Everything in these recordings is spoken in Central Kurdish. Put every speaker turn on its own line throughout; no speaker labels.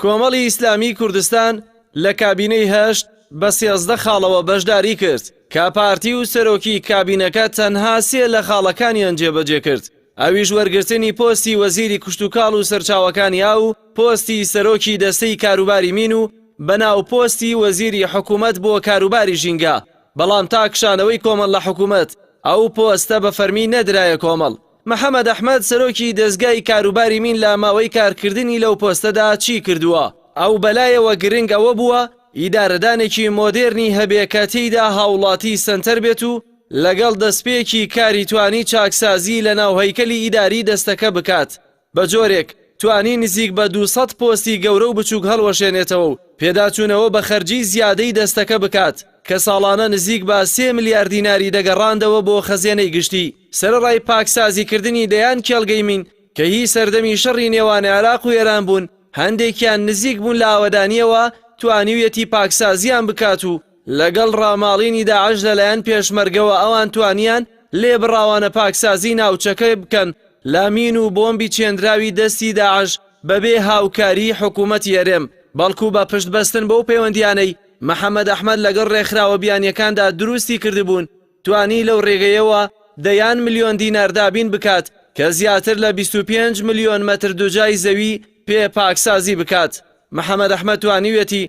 کۆمەڵی ئیسلامی کوردستان لە کابینەی هەشت بە سێزدە خاڵەوە بەشداری کرد کە پارتی و سەرۆکی کابینەکە تەنها سێ لە خاڵەکانیان جێبەجێ کرد ئەویش وەرگرتنی پۆستی وەزیری کشتوکاڵ و سەرچاوەکانی ئاو و پۆستی سەرۆکی دەستەی کاروباری مین و بە ناو پۆستی وەزیری حکوومەت بۆ کاروباری ژینگە، بەڵام تا کشانەوەی کۆمەڵ لە حکوومەت ئەو پۆستە بە فەرمی نەدرایە کۆمەڵ. محەمەد ئەحمەد سەرۆکی دەزگای کاروباری مین لە ماوەی کارکردنی لەو پۆستەدا چی کردووە؟ ئەو بە لایەوە گرنگ ئەوە بووە ئیدارەدانێکی مۆدێرنی هەبێ کە تێیدا هاوڵاتی سەنتەر بێت و لەگەڵ دەستپێکی کاری توانی چاکسازی لە ناو هەیکەلی ئیداری دەستەکە بکات بە جۆرێک توانی نزیک بە دوو سەد پۆستی گەورە و بچووک هەڵوەشێنێتەوە و پێداچوونەوە بە خەرجیی زیادەی دەستەکە بکات کە ساڵانە نزیک بە سێ ملیار دیناری دەگەڕاندەوە بۆ خەزێنەی گشتی. سەرەڕای پاکسازیکردنی دەیان کێڵگەی مین کە هی سەردەمی شەڕی نێوان عێراق و ئێران بوون، هەندێکیان نزیک بوون لە ئاوەدانییەوە، توانیویەتی پاکسازییان بکات و، لەگەڵ ڕاماڵینی داعش لەلایەن پێشمەرگەوە ئەوان توانیان لێبڕاوانە پاکسازی ناوچەکەی بکەن لە مین و بۆمبی چێنراوی دەستی داعش بەبێ هاوکاریی حکوومەتی هەرێم بەڵکوو بە پشت بەستن بەو پەیوەندییانەی محەمەد ئەحمەد لەگەڵ ڕێکخراوە بیانییەکاندا دروستی کردبوون توانی لەو ڕێگەیەوە دەیان ملیۆن دینار دابین بکات کە زیاتر لە بیست و پێنج ملیۆن مەتر دوجای زەوی پێ پاکسازی بکات محەمەد ئەحمەد توانیویەتی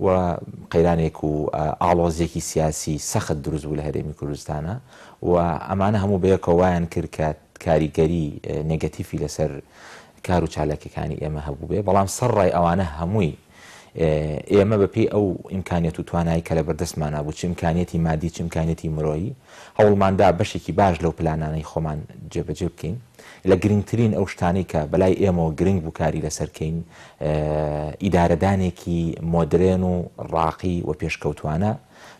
و قەیرانێک و ئاڵۆزیەکی سیاسی سەخت دروست بوو لە هەرێمی کوردستانا و ئەمانە هەموو بەیەکەوە وایان کرد کە کاریگەری نێگەتیفی لەسەر کار و چالاکیەکانی ئێمە هەبووبێ بەڵام سەر ڕای ئەوانە هەمووی ئێمە بە پێی ئەو ئیمکانیەت و توانایی کە لە بەردەستمانا بوو چ ئیمکانیەتی مادی چ ئیمکانیەتی مرۆیی هەوڵماندا بەشێکی باش لەو پلانانەی خۆمان جێبەجێ بکەین لە گرنگترین ئەو شتانەی کە بەلای ئێمەوە گرنگ بوو کاری لەسەر کەین ئیدارەدانێکی مۆدرێن و ڕاقی و پێشکەوتوانە،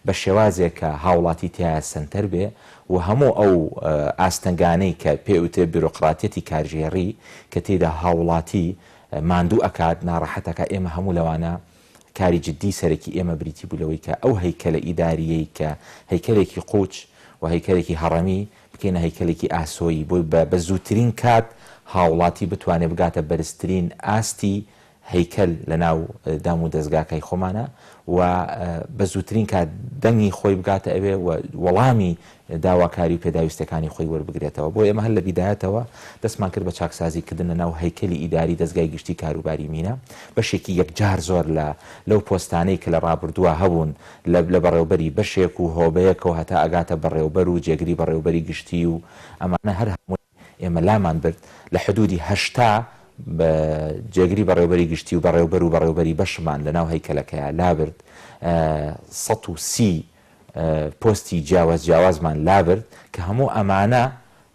بە شێوازێک کە هاوڵاتی تیایا سەنتەر بێ و هەموو ئەو ئاستەنگانەی کە پێ ئوترێ بیرۆقراتیەتی کارگێڕی کە تێیدا هاوڵاتی ماندوو ئەکات، ناڕەحەت ئەکات، ئێمە هەموو لەوانە کاری جدی سەرەکی ئێمە بریتی بوو لەوەی کە ئەو هەیکەلە ئیداریەی کە هەیکەلێکی قوچ و هەیکەلێکی هەڕەمی بکەینە هەیکەلێکی ئاسۆیی بۆی بە بە زووترین کات هاوڵاتی بتوانێ بگاتە بەرزترین ئاستی هەیکەل لە ناو دام و دەزگاکای خۆمانا و بە زووترین کات دەنگی خۆی بگاتە ئەوێ و وەڵامی داواکاری و پێداویستەکانی خۆی وەربگرێتەوە بۆ ئێمە هەر لە بیدایەتەوە دەستمان کرد بە چاکسازی کردن لە ناو هەیکەلی ئیداری دەزگای گشتی کاروباری مینا بەشێکی یەکجار زۆر لە لەو پۆستانەی کە لە ڕابردووە هەبوون لە لە بەڕێوبەری بەشێک و هۆبەیەکەوە هەتا ئەگاتە بەڕێوبەر و جێگری بەڕێوبەری گشتی و ئەمانە هەر هەمووی ئێمە لامان برد لە حدوودی هەشتا بە جێگری بەڕێوبەری گشتی و بەڕێوبەر و بەڕێوبەری بەشمان لە ناو هەیکەلەکەیا لابرد سەد و سی پۆستی جیاواز جیاوازمان لابرد کە هەموو ئەمانە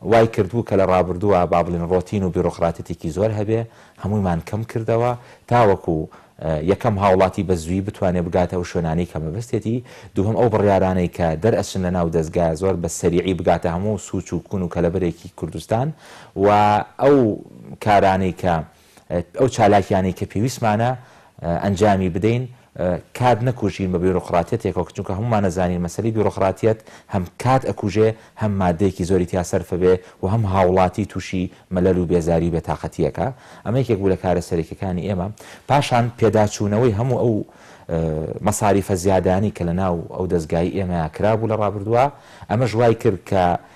وای کردبوو کە لە ڕابردووە با بڵێین ڕۆتین و بیرۆقراتیتێکی زۆر هەبێ، هەموویمان کەم کردەوە تاوەکو یەکەم هاوڵاتی بە زوویی بتوانێ بگاتە ئەو شوێنانەی کە مەبەستێتی، دووهەم ئەو بڕیارانەی کە دەرئەچن لە ناو دەزگا زۆر بە سەریعی بگاتە هەموو سووچ و کوون و کەلەبەرێکی کوردستان و ئەو کارانەی کە ئەو چالاکیانەی کە پێویستمانە ئەنجامی بدەین کات نەکوژین بە بیرۆقراتیەتێکەوە چونکە هەمومان ئەزانین مەسەلەی بیرۆقراتیەت هەم کات ئەکوژێ هەم مادەیەکی زۆری تیا سەرفە بێ و هەم هاوڵاتی تووشی مەلەل و بێزاری و بێتاقەتیەکە ئەمە یەکێک بوو لە کارە سەرەکیەکانی ئێمە پاشان پێداچوونەوەی هەموو ئەو مەساریفە زیادانی کە لە ناو ئەو دەستگای ئێمە کرابوو لە ڕابردووە ئەمەش وای کرد کە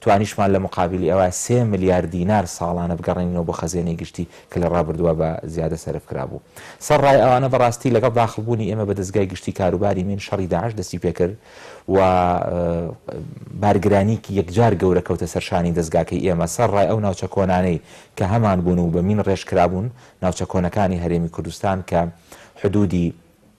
توانیشمان لە موقابیلی ئەوە سێ ملیار دینار ساڵانە بگەڕێنینەوە بۆ خەزێنەی گشتی کە لە ڕابردووە بە زیادە سەرف کرابوو سەر ڕای ئەوانە بەڕاستی لەگەڵ داخڵ بوونی ئێمە بە دەزگای گشتی کاروباری مین شەڕی داعش دەستی پێ کرد و بارگرانیکی یەکجار گەورە کەوتە سەر شانی دەزگاکەی ئێمە سەر ڕای ئەو ناوچە کۆنانەی کە هەمان بوون و بە مین ڕێژ کرابوون ناوچە کۆنەکانی هەرێمی کوردستان کە حدوودی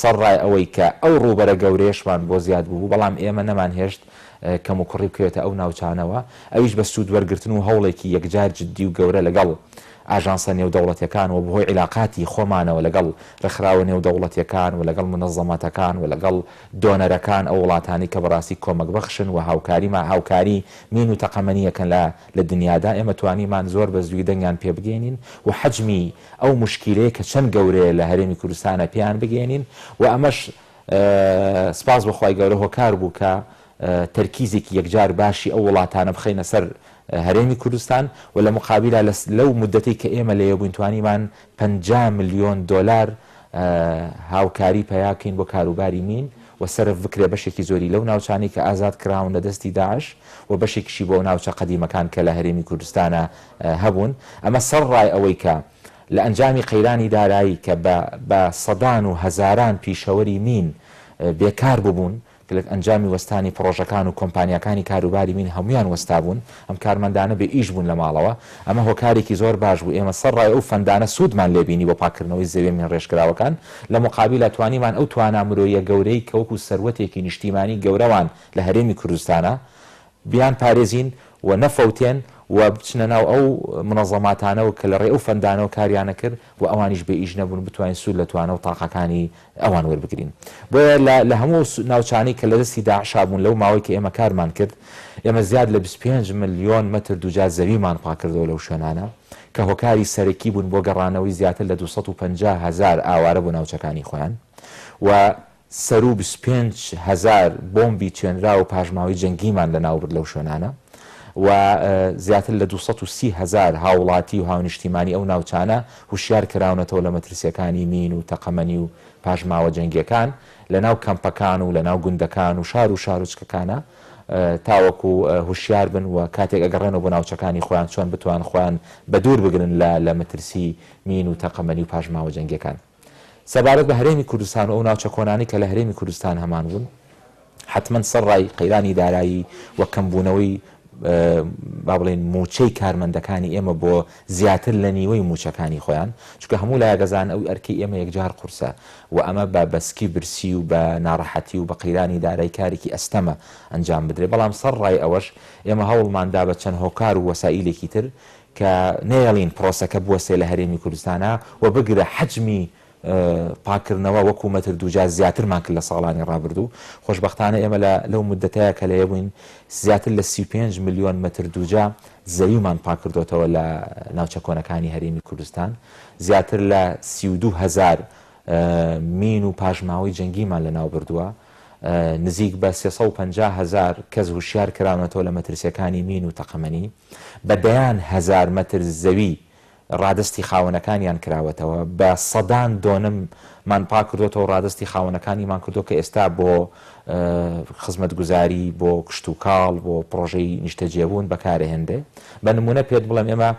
سەڕای ئەوەی کە ئەو ڕووبەرە گەورەیەشمان بۆ زیاد بوو، بەڵام ئێمە نەمانهێشت کەموکوڕی بکرێتە ئەو ناوچانەوە، ئەویش بە سوودوەرگرتن و هەوڵێکی یەکجار جددی و گەورە لەگەڵ ئاژانسە نێودەوڵەتیەکان و بەهۆی عیلاقاتی خۆمانەوە لەگەڵ ڕێکخراوە نێودەوڵەتیەکان و لەگەڵ مونەزەماتەکان و لەگەڵ دۆنەرەکان، ئەو وڵاتانەی کە بەڕاستی کۆمەکبەخشن و هاوکاریمان هاوکاری مین و تەقەمەنیەکەن لە لە دنیادا، ئێمە توانیمان زۆر بە زووی دەنگیان پێبگەیەنین و حەجمی ئەو موشکیلەیە کە چەند گەورەیە لە هەرێمی کوردستانە پێیان بگەیەنین و ئەمەش سپاس بۆ خوای گەورە هۆکار بوو کە تەرکیزێکی یەکجار باشی ئەو وڵاتانە بخەینە سەر هەرێمی کوردستان و لە مقابیلا لەو مودەتەی کە ئێمە لەوێ بووین توانیمان پەنجا ملیۆن دۆلار هاوکاری پەیا بکەین بۆ کاروباری مین و سەرف بکرێ بەشێکی زۆری لەو ناوچانەی کە ئازاد کراون لە دەستی داعش و بەشێکیشی بۆ ناوچە قەدیمەکان کە لە هەرێمی کوردستانە هەبوون، ئەمە سەر ڕای ئەوەی کە لە ئەنجامی قەیرانی دارایی کە بە بە سەدان و هەزاران پیشەوەری مین بێ کار ببوون کە لە ئەنجامی وەستانی پڕۆژەکان و کۆمپانیاکانی کاروباری مین هەموویان وەستابوون ئەم کارمەندانە بێ ئیش بوون لە ماڵەوە ئەمە هۆکارێکی زۆر باش بوو ئێمە سەر ڕای ئەو فەندانە سوودمان لێ بینی بۆ پاککردنەوەی زەویە مین ڕێژکراوەکان لە موقابیلا توانیمان ئەو توانا مرۆییە گەورەی کە وەکوو سەروەتێکی نیشتیمانی گەورەوان لە هەرێمی کوردستانە بیان پارێزین و نەفەوتێن و بچنە ناو ئەو مونەزەماتانەوە کە لە ڕێی ئەو فەندانەوە کاریان ئەکرد و ئەوانیش بێ ئیش نەبوون بتوانین سوود لە توانا و تاقەکانی ئەوان وەربگرین بۆیە لە لە هەموو ئەو ناوچانەی کە لە دەستی داعشا بوون لەو ماوەی کە ئێمە کارمان کرد ئێمە زیاد لە بیست و پێنج ملیۆن مەتر دووجا زەویمان پاک کردەوە لەو شوێنانە کە هۆکاری سەرەکی بوون بۆ گەڕانەوەی زیاتر لە دوو سەد و پەنجا هەزار ئاوارە بۆ ناوچەکانی خۆیان و سەروو بیست و پێنج هەزار بۆمبی چێنرا و پاشماوەی جەنگیمان لەناو برد لەو شوێنانە و زیاتر لە دوو سەد و سی هەزار هاوڵاتی و هاونیشتیمانی ئەو ناوچانە هوشیار کراونەتەوە لە مەترسیەکانی مین و تەقەمەنی و پاشماوە جەنگیەکان لەناو کەمپەکان و لەناو گوندەکان و شار و شارۆچکەکانا تاوەکو هوشیار بن و کاتێک ئەگەڕێنەوە بۆ ناوچەکانی خۆیان چۆن بتوان خۆیان بەدوور بگرن لە لە مەترسی مین و تەقەمەنی و پاشماوە جەنگیەکان. سەبارەت بە هەرێمی کوردستان و ئەو ناوچە کۆنانەی کە لە هەرێمی کوردستان هەمان بوون، حەتمەن سەر ڕای قەیرانی دارایی و کەمبوونەوەی با بڵێین مووچەی کارمەندەکانی ئێمە بۆ زیاتر لە نیوەی مووچەکانی خۆیان، چونکە هەموو لایەک دەزانن ئەو ئەرکەی ئێمە یەکجار قورسە و ئەمە بە بە سکی برسی و بە ناڕەحەتی و بە قەیرانی دارای کارێکی ئەستەمە ئەنجام بدرێت، بەڵام سەر ڕای ئەوەش ئێمە هەوڵمان دا بە چەند هۆکار و وەسائیلێکی تر کە نەیەڵین پرۆسەکە بوەستێ لە هەرێمی کوردستانا و بگرە حەجمی پاککردنەوە وەکو مەتر دووجار زیاترمان کرد لە ساڵانی ڕابردوو، خۆشبەختانە ئێمە لە لەو موددەتەیا کە لەێ بووین زیاتر لە سی و پێنج ملیۆن مەتر دووجا زەویمان پاککردۆتەوە لە ناوچە کۆنەکانی هەرێمی کوردستان، زیاتر لە سی و دوو هەزار مین و پاشماوەی جەنگیمان لەناوبردووە، نزیک بە سێ سەد و پەنجا هەزار کەس هوشیار کراونەتەوە لە مەترسیەکانی مین و تەقەمەنی. بە دەیان هەزار مەتر زەوی ڕادەستی خاوەنەکانیان کراوەتەوە، بە سەدان دۆنم مان پاک کردۆتەوە و ڕادەستی خاوەنەکانیمان کردووە کە ئێستا بۆ خزمەتگوزاری، بۆ کشتوکاڵ، بۆ پڕۆژەی نیشتەجێبوون بەکارەهێنرێ. بە نموونە پێت بڵێم ئێمە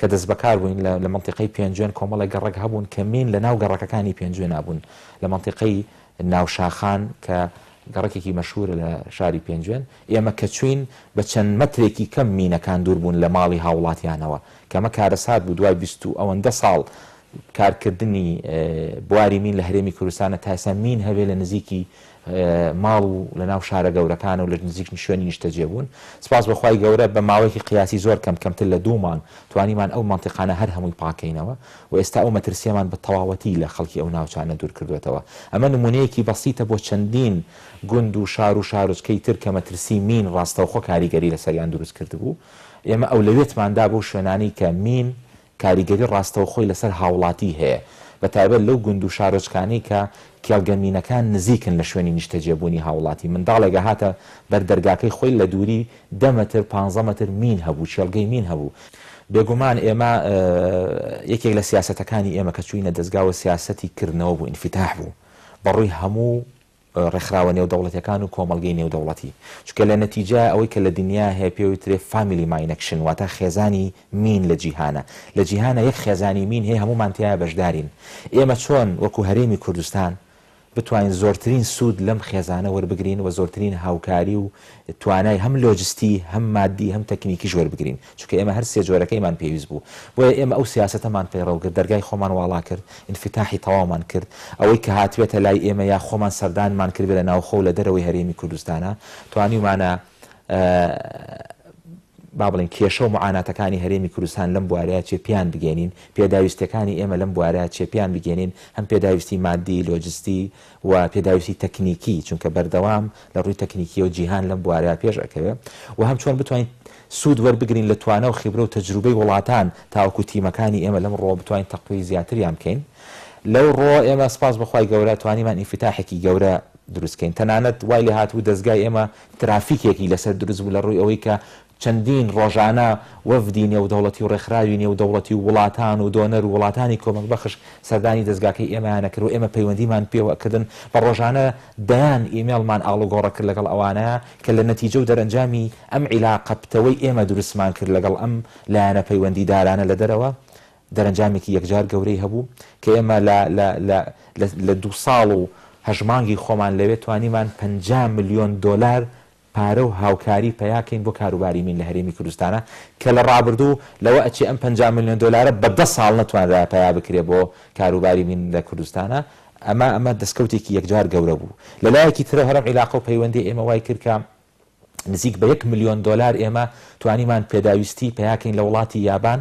کە دەستبەکار بووین لە لە مەنتیقەی پێنجوێن کۆمەڵێک گەڕەک هەبوون کە مین لە ناو گەڕەکەکانی پێنجوێنا بوون لە مەنتیقەی ناوشاخان کە گەڕەکێکی مەشهوورە لە شاری پێنجوێن، ئێمە کە چووین بە چەند مەترێکی کەم مینەکان دوور بوون لە ماڵی هاوڵاتیانەوە، کە ئەمە کارەسات بوو دوای بیست و ئەوەندە ساڵ کار کردنی بواری مین لە هەرێمی کوردستانە تا ئێستا مین هەبێ لە نزیکی ماڵ و لە ناو شارە گەورەکانە و لە نزیک شوێنی نیشتەجێ بوون سپاس بۆ خوای گەورە بە ماوەیەکی قیاسی زۆر کەم کەمتر لە دوو مانگ توانیمان ئەو مەنتیقانە هەر هەمووی پاک کەینەوە و ئێستا ئەو مەترسیەمان بە تەواوەتی لە خەڵکی ئەو ناوچانە دوور کردووەتەوە ئەمە نموونەیەکی بەسیتە بۆ چەندین گوند و شار و شارۆچکەی تر کە مەترسی مین ڕاستەوخۆ کاریگەری لەسەریان دروست کردبوو، ئێمە ئەولەوێتمان دا بەو شوێنانەی کە مین کاریگەری ڕاستەوخۆی لەسەر هاوڵاتی هەیە، بە تایبەت لەو گوند و شارۆچکانەی کە کێڵگە مینەکان نزیکن لە شوێنی نیشتەجێبوونی هاوڵاتی، منداڵێک ئەهاتە بەر دەرگاکەی خۆی لە دووری دە مەتر، پانزە مەتر مین هەبوو، کێڵگەی مین هەبوو. بێگومان ئێمە یەکێک لە سیاسەتەکانی ئێمە کە چووینە دەزگا و سیاسەتی کردنەوە بوو، ئینفیتاح بوو بە ڕووی هەموو، ڕێکخراوە نێودەوڵەتیەکان و کۆمەڵگەی نێودەوڵەتی چونکە لە نەتیجە ئەوەی کە لە دنیا هەیە پێ وترێ فامیلی ماینەکشن واتە خێزانی مین لە جیهانە لە جیهانە یەک خێزانی مین هەیە هەموومان تیایا بەشدارین ئێمە چۆن وەکو هەرێمی کوردستان بتوانین زۆرترین سوود لەم خێزانە وەربگرین و زۆرترین هاوکاری و توانای هەم لۆجستی هەم مادی هەم تەکنیکیش وەربگرین چونکە ئێمە هەر سێ جۆرەکەیمان پێویست بوو، بۆیە ئێمە ئەو سیاسەتەمان پەیڕەو کرد، دەرگای خۆمان واڵا کرد، ئینفیتاحی تەواومان کرد، ئەوەی کە هاتبێتە لای ئێمە یا خۆمان سەردانمان کردبێت لە ناوخۆ و لە دەرەوەی هەرێمی کوردستانا توانیومانە با بڵێین کێشە و معاناتەکانی هەرێمی کوردستان لەم بوارەیە چێ پێیان بگەینین، پێداویستیەکانی ئێمە لەم بوارەیە چێ پێیان بگەینین، هەم پێداویستی مادی، لۆجستی، و پێداویستی تەکنیکی چونکە بەردەوام لە ڕووی تەکنیکیەوە جیهان لەم بوارەیا پێش ئەکەوێ و هەم چۆن بتوانین سوود وەربگرین لە توانا و خیبرە و تەجروبەی وڵاتان تاوەکو تیمەکانی ئێمە لەم ڕووەوە بتوانین تەقوی زیاتریان بکەین لەو ڕووەوە ئێمە سپاس بۆ خوای گەورە توانیمان ئینفیتاحێکی گەورە دروست کەین تەنانەت وای لێهاتبوو دەزگای ئێمە ترافیکێکی لەسەر دروست بوو لە ڕووی ئەوەی کە چەندین ڕۆژانە وەفدی نێودەوڵەتی و ڕێکخراوی نێودەوڵەتی و وڵاتان و دۆنەر و وڵاتانی کۆمەک بەخش سەردانی دەزگاکەی ئێمەیان ئەکرد و ئێمە پەیوەندیمان پێوە ئەکردن بە ڕۆژانە دەیان ئیمێڵمان ئاڵوگۆڕە کرد لەگەڵ ئەوانە کە لە نەتیجە و دەرەنجامی ئەم عیلاقە پتەوەی ئێمە دروستمان کرد لەگەڵ ئەم لایەنە پەیوەندی دارانە لە دەرەوە دەرەنجامێکی یەکجار گەورەی هەبوو کە ئێمە لە لە لە لە لە دوو ساڵ و هەشت مانگی خۆمان لەوێ توانیمان پەنجا ملیۆن دۆلار پارە و هاوکاری پەیا کەین بۆ کاروباری مین لە هەرێمی کوردستانا کە لە ڕابردوو لەوە ئەچێ ئەم پەنجا ملیۆن دۆلارە بە دە ساڵ نەتوانرایە پەیا بکرێ بۆ کاروباری مین لە کوردستانا ئەمە ئەمە دەسکەوتێکی یەکجار گەورە بوو لە لایەکی ترەوە هەرەم عیلاقە و پەیوەندی ئێمە وای کرد کە نزیک بە یەک ملیۆن دۆلار ئێمە توانیمان پێداویستی پەیا کەین لە وڵاتی یابان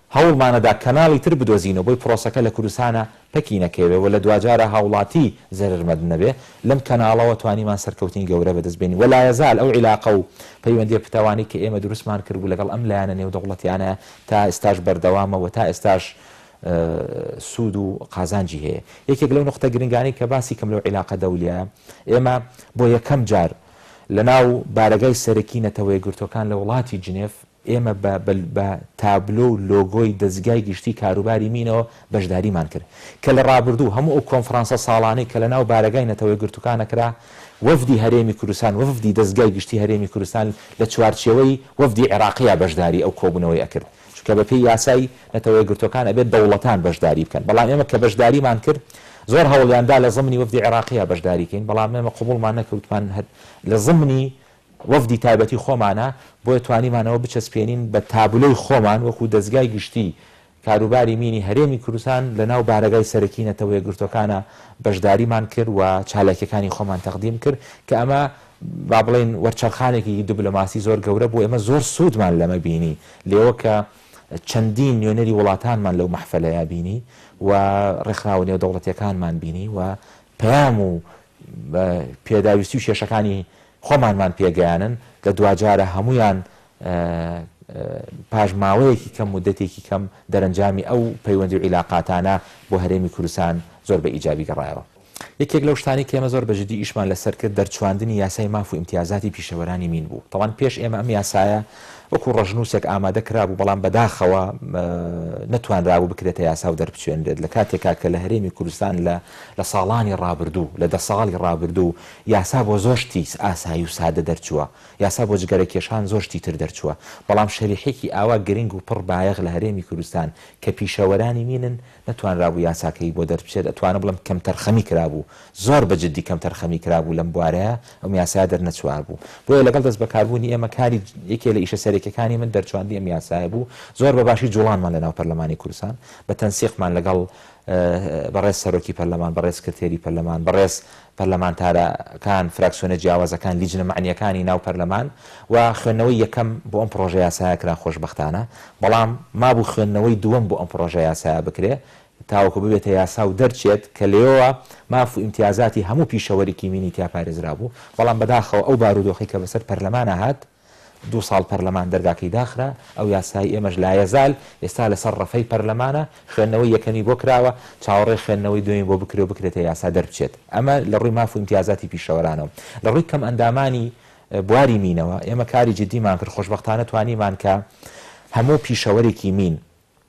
هەوڵمانەدا کەناڵی تر بدۆزینەوە بۆی پرۆسەکە لە کوردستانا پەکی نەکەوێ و لە دواجارا هاوڵاتی زەرەر مەند نەبێ، لەم کەناڵەوە توانیمان سەرکەوتنی گەورە بەدەست بێنین و لایەزال ئەو عیلاقە و پەیوەندیە پتەوانەی کە ئێمە دروستمان کردبوو لەگەڵ ئەم لایەنە نێودەوڵەتیانە تا ئێستاش بەردەوامە و تا ئێستاش سوود و قازانجی هەیە. یەکێک لەو نوقتە گرنگانەی کە باسی کەم لەو عیلاقە دەولیایە، ئێمە بۆ یەکەم جار لەناو بارەگای سەرەکی نەتەوەیەکگرتووەکان لە وڵاتی جنێف، ئێمە بە بە تابلۆ و لۆگۆی دەزگای گشتیی کاروباری مینەوە بەشداریمان کرد، کە لە ڕابردوو هەموو ئەو کۆنفرانسە ساڵانەی کە لەناو بارەگای نەتەوە یەکگرتووکانە کرا، وەفدی هەرێمی کوردستان، وەفدی دەزگای گشتیی هەرێمی کوردستان لە چوارچێوەی وەفدی عێراقییە بەشداریی ئەو کۆبوونەوەی ئەکرد، چونکە بەپێی یاسای نەتەوە یەکگرتووەکان ئەبێت دەوڵەتان بەشداری بکەن، بەڵام ئێمە کە بەشداریمان کرد زۆر هەوڵیان دا لە زەمنی وەفدی عێراقییە بەشداری کەین، بەڵام ئێمە قبووڵمان نەکرد، وتمان هەر لە زەمنی وەفدی تایبەتی خۆمانە، بۆیە توانیمان ئەوە بچەسپێنین بە تابلۆی خۆمان وەکو دەزگای گشتی کاروباری مینی هەرێمی کوردستان لەناو بارەگای سەرەکی نەتەوە یەکگرتووەکانا بەشداریمان کرد و چالاکیەکانی خۆمان تەقدیم کرد کە ئەمە با بڵێین وەرچەرخانێکی دبلۆماسی زۆر گەورە بوو ئێمە زۆر سوودمان لەمە بینی لێوە کە چەندین نوێنەری وڵاتانمان لەو مەحفەلەیا بینی و ڕێکخراوە نێودەوڵەتیەکانمان بینی و پەیام و بە پێداویستی و کێشەکانی خۆمانمان پێگەیانن، لە دواجارە هەموویان پاش ماوەیەکی کەم، موددەتێکی کەم دەرەنجامی ئەو پەیوەندی و عیلاقاتانە بۆ هەرێمی کوردستان زۆر بە ئیجابی گەڕایەوە. یەکێک لەو شتانەی کە ئێمە زۆر بە جدی ئیشمان لەسەر کرد دەرچواندنی یاسای ماف و ئیمتیازاتی پیشەوەرانی مین بوو، تاوان پێش ئێمە ئەم یاسایە وەکوو ڕەشنووسێک ئامادە کرابوو، بەڵام بە داخەوە نەتوانرابوو بکرێتە یاسا و دەربچوێنرێت، لە کاتێکا کە لە هەرێمی کوردستان لە لە ساڵانی ڕابردوو، لە دە ساڵی ڕابردوو یاسا بۆ زۆر شتی ئاسایی و سادە دەرچووە، یاسا بۆ جگەرەکێشان زۆر شتی تر دەرچووە، بەڵام شەریحێکی ئاوا گرنگ و پڕ بایەخ لە هەرێمی کوردستان کە پیشەوەرانی مینن نەتوانرابوو یاساکەی بۆ دەربچێت، ئەتوانم بڵێم کەمتەرخەمی کرابوو، زۆر بە جدی کەمتەرخەمی کرابوو لەم بوارەیا، ئەم یاسایە دەرنەچووابوو. بۆیە لەگەڵ دەستبەکاربوونی ئێمە کاری یەکێ لە ئیشە سەرەکیەکانی من دەرچووانی ئەم یاسایە بوو، زۆر بە باشی جوڵانمان لەناو پەرلەمانی کوردستان بە تەنسیقمان لەگەڵ بەڕێز سەرۆکی پەرلەمان، بەڕێز سکرتێری پەرلەمان، بەڕێز پەرلەمانتارەکان، فراکسیۆنە جیاوازەکان، لیجنە مەعنییەکانی ناو پەرلەمان و خوێندنەوەی یەکەم بۆ ئەم پڕۆژە یاسایە کرا خۆشبەختانە، بەڵام مابوو خوێندنەوەی دووەم بۆ ئەم پڕۆژە یاسایە بکرێ تاوەکو ببێتە یاسا و دەرچێت کە لێیەوە ماف و ئیمتیازاتی هەموو پیشەوەرێکی مینی تیا پارێزرابوو، بەڵام بەداخەوە ئەو بارودۆخەی کە بەسەر پەرلەمانا هات، دوو ساڵ پەرلەمان دەرگاکەی داخرا، ئەو یاسای ئێمەش لایەزال ئێستا لەسەر رەفەی پەرلەمانە، خوێندنەوەی یەکەمی بۆ کراوە، چاوەڕێی خوێندنەوەی دووەمی بۆ بکرێ و بکرێتە یاسا دەربچێت. ئەمە لە رووی ماف و ئیمتیازاتی پیشەوەرانەوە. لە رووی کەمئەندامانی بواری مینەوە ئێمە کاری جدیمان کرد، خۆشبەختانە توانیمان کە هەموو پیشەوەرێکی مین،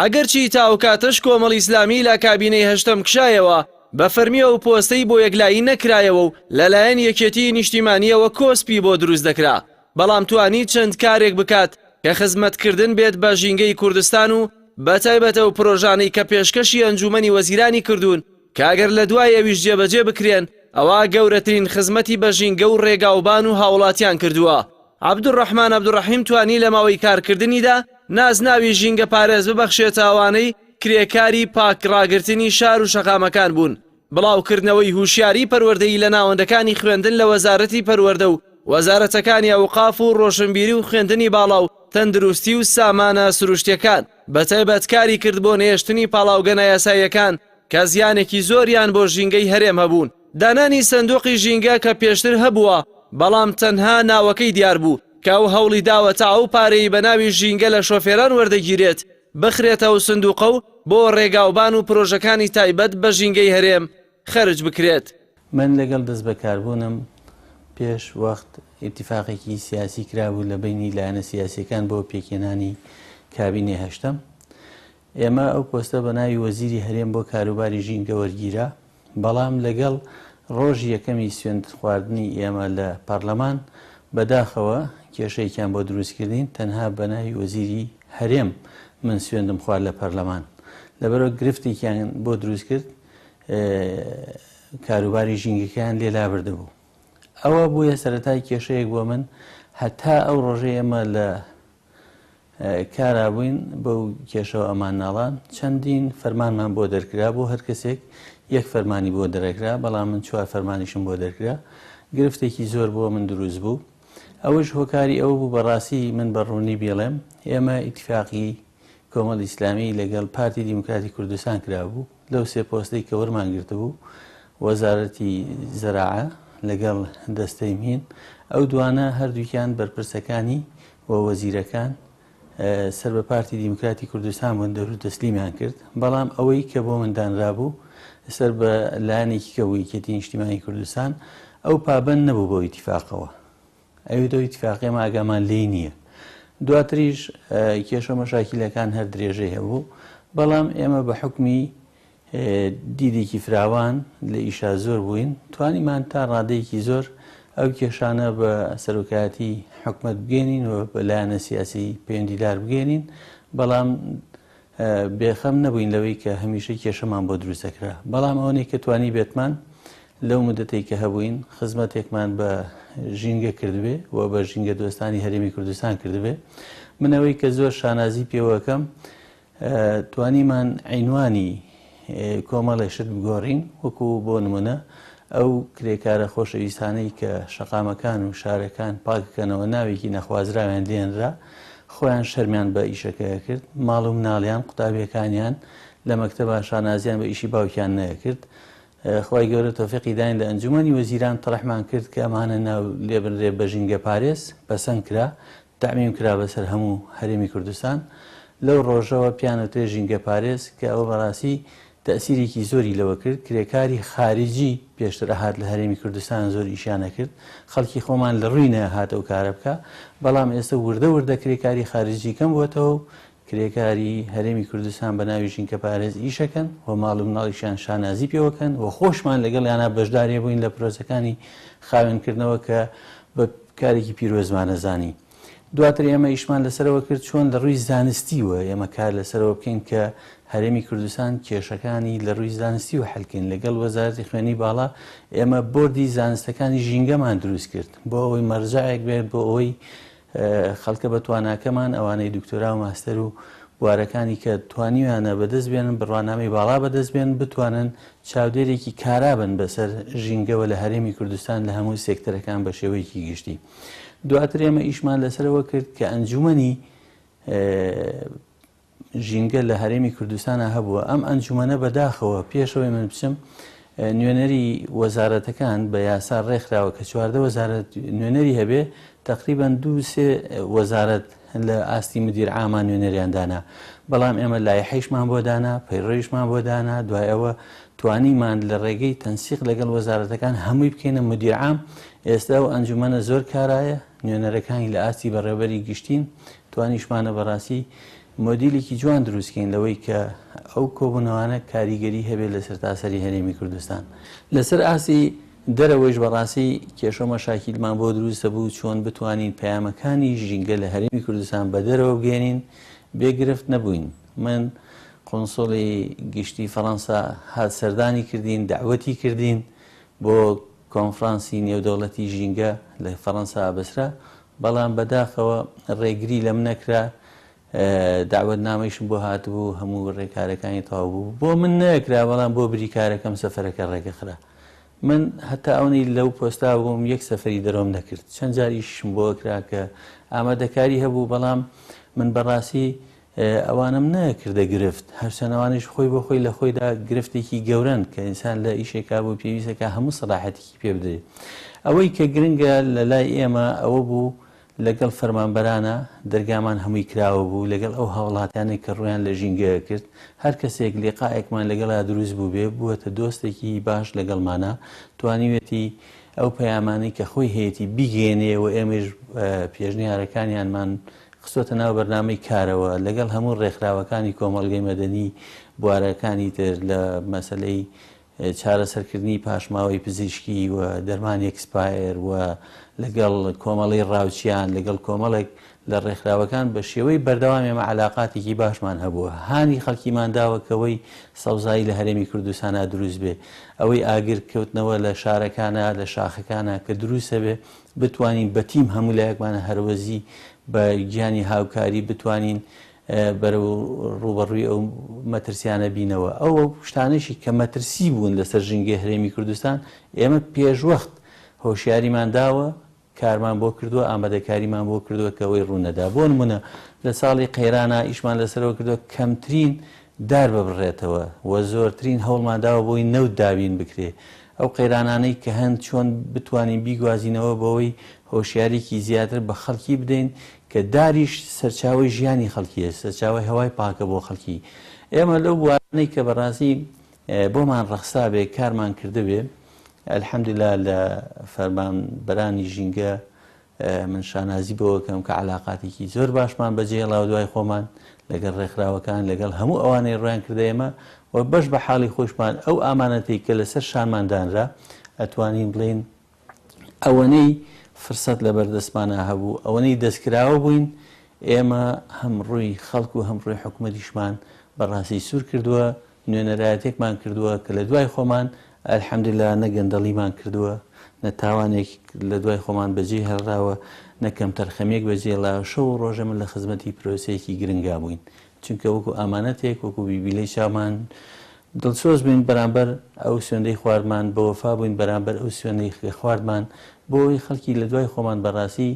ئەگەرچی تا ئەو کاتەش کۆمەڵی ئیسلامی لە کابینەی هەشتەم کشایەوە، بە فەرمی ئەو پۆستەی بۆ یەکلایی نەکرایەوە و لە لایەن یەکێتیی نیشتیمانییەوە کۆسپی بۆ دروست دەکرا، بەڵام توانی چەند کارێک بکات کە خزمەتکردن بێت بە ژینگەی کوردستان و بەتایبەت ئەو پرۆژانەی کە پێشکەشی ئەنجوومەنی وەزیرانی کردوون کە ئەگەر لە دوای ئەویش جێبەجێ بکرێن ئەوا گەورەترین خزمەتی بە ژینگە و ڕێگاوبان و هاوڵاتیان کردووە. عەبدولڕەحمان عەبدولڕەحیم توانی لە ماوەی کارکردنیدا نازناوی ژینگەپارێز ببەخشێتە ئەوانەی کرێکاری پاک ڕاگرتنی شار و شەقامەکان بوون، بڵاوکردنەوەی هوشیاری پەروەردەیی لە ناوەندەکانی خوێندن لە وەزارەتی پەروەردە و وەزارەتەکانی ئەوقاف و ڕۆشنبیری و خوێندنی باڵا و تەندروستی و سامانە سروشتیەکان، بەتایبەت کاری کرد بۆ نەهێشتنی پاڵاوگە نایاساییەکان، کە زیانێکی زۆریان بۆ ژینگەی هەرێم هەبوون، دانانی سندوقی ژینگە کە پێشتر هەبووە بەڵام تەنها ناوەکەی دیار بوو کە ئەو هەوڵی داوە تا ئەو پارەی بە ناوی ژینگە لە شۆفێران وەردەگیرێت بخرێتە ئەو سندوقە و بۆ ڕێگاوبان و پرۆژەکانی تایبەت بە ژینگەی هەرێم خەرج بکرێت. من لەگەڵ
دەستبەکاربوونم پێش وەخت ئیتیفاقێکی سیاسی کرابوو لە بەینی لایەنە سیاسیەکان بۆ پێکهێنانی کابینەی هەشتەم ئێمە ئەو پۆستە بە ناوی وەزیری هەرێم بۆ کاروباری ژینگە وەرگیرا، بەڵام لەگەڵ رۆژی یەکەمی سوێندخواردنی ئێمە لە پارلەمان، بەداخەوە کێشەیەکیان بۆ دروستکردین، تەنها بە ناوی وەزیری هەرێم من سوێندم خوارد لە پارلەمان، لەبەرئەوە گرفتێکیان بۆ دروستکرد کاروباری ژینگەکەیان لێ لابردبوو. ئەوە بوویە سەرەتای کێشەیەک بۆ من، هەتا ئەو رۆژەی ئێمە لە کارابووین بەو کێشەوە ئەمان ناڵان چەندین فەرمانمان بۆ دەرکرا بۆ هەر کەسێک یەک فەرمانی بۆ دەرەکرا بەڵام من چوار فەرمانیشم بۆ دەرکرا گرفتێکی زۆر بۆ من دروست بوو ئەوەش هۆکاری ئەوە بوو بەڕاستی من بە ڕوونی بێڵێم ئێمە ئیتفاقی کۆمەڵ ئیسلامی لەگەڵ پارتی دیموکراتی کوردستان کرابوو لەو سێ پۆستەی کە وەرمان گرتبوو، وەزارەتی زەراعە لەگەڵ دەستەی مین، ئەو دوانە هەردووکیان بەرپرسەکانی و وەزیرەکان سەر بە پارتی دیموکراتی کوردستان بوون دەور و تەسلیمیان کرد، بەڵام ئەوەی کە بۆ من دانرابوو سەر بە لایەنێکی کە بوو یەکێتی نیشتیمانی کوردستان، ئەو پابەند نەبوو بەو ئیتیفاقەوە. ئەوێ دەو ئیتفاقیە ئێمە ئاگامان لێی نییە دواتریش کێشە مەشاکیلەکان هەر درێژەی هەبوو بەڵام ئێمە بە حکمی دیدێکی فراوان لە ئیشا زۆر بووین توانیمان تا ڕادەیەکی زۆر ئەو کێشانە بە سەرۆکایەتی حکومت بگەێنین و بە لایەنە سیاسی پەیوەندیدار بگەێنین بەڵام بێخەم نەبووین لەوەی کە هەمیشە کێشەمان بۆ دروست دەکرا، بەڵام ئەوەنەی کە توانیبێتمان لەو موددەتەی کە هەبووین خزمەتێکمان بە ژینگە کردبێ و بە ژینگەدۆستانی هەرێمی کوردستان کردبێ. من ئەوەی کە زۆر شانازی پێوە ئەکەم توانیمان عینوانی کۆمەڵێ شت بگۆڕین وەکو بۆ نمونە ئەو کرێکارە خۆشەویستانەی کە شەقامەکان و شارەکان پاککەنەوە ناوێکی نەخوازراویان لێنرا خۆیان شەرمیان بە ئیشەکەیە کرد ماڵ و مناڵیان قوتابیەکانیان لە مەکتەبا شانازیان بە ئیشی باوکیان نەکرد خی گەورە تۆفیقی داین لە ئەنجومی وەزیران تەڕحمان کرد کە ئەمانە ناو لێبنرێ بە ژینگە پارێز پەسەند کرا تەعمیم کرا بەسەر هەموو هەرێمی کوردستان، لەو ڕۆژەوە پێیان وترێت ژینگەپارێز، کە ئەوە بەڕاستی تەئسیرێکی زۆری لەوە کرد، کرێکاری خارجی پێشتر ئەهات لە هەرێمی کوردستان زۆر ئیشیان ئەکرد، خەڵکی خۆمان لە ڕووی نەئەهات ئەو کارە بکا، بەڵام ئێستە وردە وردە کرێکاری خارجی کەم بۆتەوە و کرێکاری هەرێمی کوردستان بە ناوی ژینکە پارێز ئیشەکەن و ماڵ و مناڵیشیان شانازی پێوەکەن و خۆشمان لەگەڵیانا بەشدارێ بووین لە پرۆسەکانی خاوێنکردنەوە کە بە کارێکی پیرۆزمانە زانی دواتر ئێمە ئیشمان لەسەرەوە کرد چۆن لە ڕووی زانستی و ئێمە کار لەسەرەوە بکەین کە هەرێمی کوردستان کێشەکانی لە ڕووی زانستی و حلکەین لەگەڵ وەزارەتی خوێنی باڵا ئێمە بردی زانستەکانی ژینگەمان دروست کرد بۆ ئەوەی مەرجایەک بێت بۆ ئەوەی خەڵکە بەتواناکەمان ئەوانەی دکتۆرا و ماستەر و بوارەکانی کە توانیویانە بەدەست بێنن بڕوانامەی باڵا بەدەست بێن بتوانن چاودێرێکی کارا بن بەسەر ژینگەوە لە هەرێمی کوردستان لە هەموو سێکتەرەکان بە شێوەیەکی گشتی دواتر ئێمە ئیشمان لەسەرەوە کرد کە ئەنجومنی ژینگە لە هەرێمی کوردستانا هەبووە ئەم ئەنجومەنە بەداخەوە پێشەوەی من بچم نوێنەری وەزارەتەکان بە یاسا ڕێکخراوە کە چواردە وەزارەت نوێنەری هەبێ تقریبان دو سێ وەزارەت لە ئاستی مدیر ئامان نوێنەریان دانا بەڵام ئێمە لای حیشمان بۆ دانا پەیڕۆیشمان بۆ دانا دوای ئەوە توانیمان لە ڕێگەی تەنسیق لەگەڵ وەزارەتەکان هەمووی بکەینە مدیرعام ئێستا و ئەنجومەنە زۆر کارایە نوێنەرەکانی لە ئاستی بەڕێوەبەری گشتین، توانیشمانە بە ڕاستی مۆدیلێکی جوان دروست کەین لەوەی کە ئەو کۆبوونەوانە کاریگەری هەبێت لە سەرتاسەری هەرێمی کوردستان. لە سەر ئاستی دەرەوەیش بە ڕاستی کێشەو مەشاکیلمان بۆ دروست دەبوو چۆن بتوانین پەیامەکانی ژینگە لە هەرێمی کوردستان بە دەرەوە بگەیەنین بێ گرفت نەبووین. من قونسڵی گشتی فەڕەنسا هات سەردانی کردین، دەعوەتی کردین بۆ کۆنفرانسی نێودەوڵەتی ژینگە لە فەرەنسا ئابەسرا، بەڵام بە داخەوە ڕێگری لەم نەکرا، دەعوەتنامەیشم بۆ هاتبوو، هەموو ڕێکارەکانی تەواو بوو، بۆ من نەکرا، بەڵام بۆ بریکارەکەم سەفەرەکە ڕێگەخرا. من هەتا ئەونی لەو پۆستا بووم یەک سەفەری دەرۆم نەکرد، چەند جار ئیشیشم بۆ کرا کە ئامادەکاری هەبوو، بەڵام من بەڕاستی ئەوانم نەکردە گرفت، هەرچەند ئەوانیش خۆی بۆ خۆی لە خۆیدا گرفتێکی گەورەن کە ئینسان لە ئیشێکا بوو پێویستە کە هەموو سەلاحەتێکی پێ بدرێت. ئەوەی کە گرنگە لە لای ئێمە ئەوە بوو لەگەڵ فەرمانبەرانە دەرگامان هەمووی کراوە بوو، لەگەڵ ئەو هاوڵاتیانەی کە ڕوویان لە ژینگەیە کرد، هەر کەسێک لیقائێکمان لەگەڵا دروست بووبێ بووەتە دۆستێکی باش لەگەڵمانا، توانیوێتی ئەو پەیامانەی کە خۆی هەیەتی بیگەیەنێ و ئێمەیش پێشنیارەکانیانمان خستۆتە ناو بەرنامەی کارەوە لەگەڵ هەموو ڕێکخراوەکانی کۆمەڵگەی مەدەنی بوارەکانی تر لە مەسەلەی چارەسەرکردنی پاشماوەی پزیشکی و دەرمانی ئێکسپایەر و لەگەڵ کۆمەڵی ڕاوچیان لەگەڵ کۆمەڵێک لە ڕێکخراوەکان بە شێوەی بەردەوام ئێمە عەلاقاتێکی باشمان هەبووە هانی خەڵکیمان داوە کەوەی سەوزایی لە هەرێمی کوردستانا دروست بێ ئەوەی ئاگر کەوتنەوە لە شارەکانە لە شاخەکانە کە دروستە بێ بتوانین بە تیم هەموو لایەکمان هەرەوەزی بە گیانی هاوکاری بتوانین بەرەو ڕووبەڕووی ئەو مەترسیانە بینەوە ئەو شتانەشی کە مەترسی بوون لەسەر ژینگەی هەرێمی کوردستان ئێمە پێشوەخت هۆشیاریمان داوە کارمان بۆ کردووە ئامادەکاریمان بۆ کردووە کە ئەوەی ڕوونەدا بۆ نمونە لە ساڵی قەیرانە ئیشمان لەسەرەوە کردووە کەمترین دار ببڕێتەوە و زۆرترین هەوڵمان داوە بۆی نەوت دابین بکرێ ئەو قەیرانانەی کە هەن چۆن بتوانین بیگوازینەوە بەوەی هۆشیاریکی زیاتر بە خەڵکی بدەین کە داریش سەرچاوەی ژیانی خەڵکیە سەرچاوەی هەوای پاکە بۆ خەڵکی ئێمە لەو بوارانەی کە بەڕاستی بۆمان ڕەخسابێ کارمان کردبێ الحمدللە لە فەرمانبەرانی ژینگە من شانازی بەوەکەم کە عەلاقاتێکی زۆر باشمان بەجێهێڵا و دوای خۆمان لەگەڵ ڕێکخراوەکان، لەگەڵ هەموو ئەوانەی ڕوویان کردە ئێمە و بەش بە حاڵی خۆشمان ئەو ئامانەتەی کە لەسەر شانمان دانرا، ئەتوانین بڵێین ئەوەنەی فرسەت لەبەر دەستمانا هەبوو، ئەوەنەی دەستکراوە بووین، ئێمە هەم ڕووی خەڵک و هەم ڕووی حکومەتیشمان بە ڕاستی سوور کردووە، نوێنەرایەتێکمان کردووە کە لە دوای خۆمان الحمدللە نە گەندەڵیمان کردووە، نە تاوانێک لە دوای خۆمان بەجێ هێڵراوە، نە کەمتەرخەمییەک بەجێ هێڵراوە، شەو و ڕۆژێ من لە خزمەتی پرۆسەیەکی گرنگا بووین، چونکە وەکو ئامانەتێک، وەکو بیبیلەی چاومان دڵسۆز بووین بەرامبەر ئەو سوێندەی خواردمان، بەوەفا بووین بەرامبەر ئەو سوێندەی کە خواردمان، بۆ ئەوەی خەڵکی لە دوای خۆمان بەڕاستی.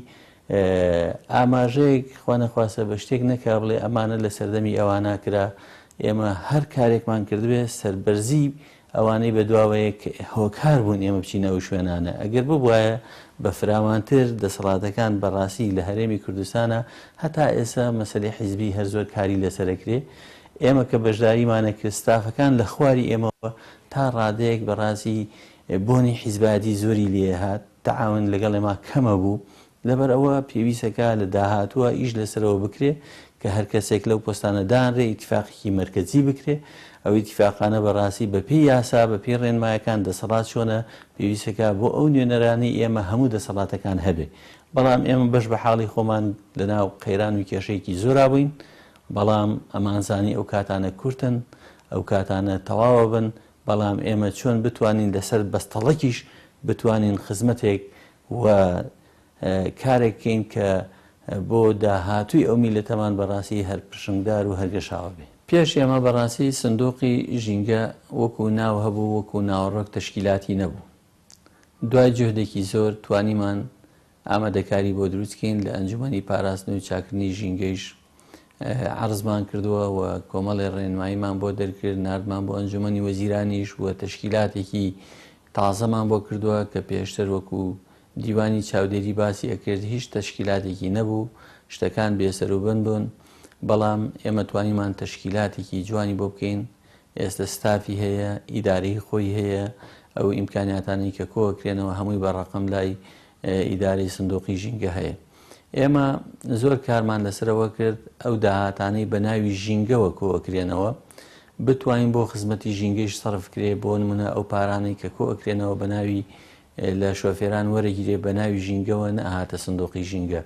ئاماژەیەک خوا نەخواستە بە شتێک نەکا بڵێ ئەمانە لە سەردەمی ئەوانا کرا، ئێمە هەر کارێکمان کردبێ سەربەرزی ئەوانەی بە دواوەیە کە هۆکار بوون ئێمە بچینە ئەو شوێنانە، ئەگەر ببوایە بە فراوانتر دەسەڵاتەکان بە ڕاستی لە هەرێمی کوردستانا هەتا ئێستا مەسەلەی حیزبی هەر زۆر کاری لەسەر ئەکرێ، ئێمە کە بەشداریمان نەکرد ستافەکان لە خواری ئێمەوە تا ڕادەیەک بە ڕاستی بۆنی حیزبایەتی زۆری لێ هات، تەعاون لەگەڵ ئێمە کەمە بوو لەبەر ئەوە پێویستە کە لە داهاتووە ئیش لەسەرەوە بکرێ کە هەر کەسێک لەو پۆستانە دانرێ ئیتیفاقێکی مەرکەزی بکرێ ئەو ئیتیفاقانە بە ڕاستی بە پێی یاسا بە پێی ڕێنمایەکان دەسەڵات چۆنە پێویستە کە بۆ ئەو نوێنەرانەی ئێمە هەموو دەسەڵاتەکان هەبێ بەڵام ئێمە بەش بە حاڵی خۆمان لە ناو قەیران و کێشەیەکی زۆرا بووین بەڵام ئەمانزانی ئەو کاتانە کورتن ئەو کاتانە تەواوە بن بەڵام ئێمە چۆن بتوانین لەسەر بەستەڵەکیش بتوانین خزمەتێک و کارێک کەین کە بۆ داهاتووی ئەو میلەتەمان بەڕاستی هەر پرشنگدار و هەرگەشاوە بێ. پێش ئێمە بەڕاستی سندوقی ژینگە وەکو ناو هەبوو وەکو ناوەڕۆک تەشکیلاتی نەبوو. دوای جوهدێکی زۆر توانیمان ئامادەکاری بۆ دروستکەین لە ئەنجومەنی پاراستن و چاکردنی ژینگەیش عەرزمان کردووە و کۆمەڵێ ڕێنماییمان بۆ دەرکرد، ناردمان بۆ ئەنجومەنی وەزیرانیش و تەشکیلاتێکی تازەمان بۆ کردووە کە پێشتر وەکو دیوانی چاودێری باسی ئەکرد هیچ تەشکیلاتێکی نەبوو، شتەکان بێسەروبن بوون، بەڵام ئێمە توانیمان تەشکیلاتێکی جوانی بۆ بکەین. ئێستە ستافی هەیە، ئیدارەی خۆی هەیە، ئەو ئیمکانیاتانەی کە کۆ ئەکرێنەوە هەمووی بە ڕەقەم لای ئیدارەی سندوقی ژینگە هەیە. ئێمە زۆر کارمان لەسەر ئەوە کرد ئەو داهاتانەی بە ناوی ژینگەوە کۆ ئەکرێنەوە بتوانین بۆ خزمەتی ژینگەیش سەرف کرێ، بۆ نموونە ئەو پارانەی کە کۆ ئەکرێنەوە بە ناوی لە شۆفێران وەرەگیرێ بە ناوی ژینگەوە نەهاتە سندوقی ژینگە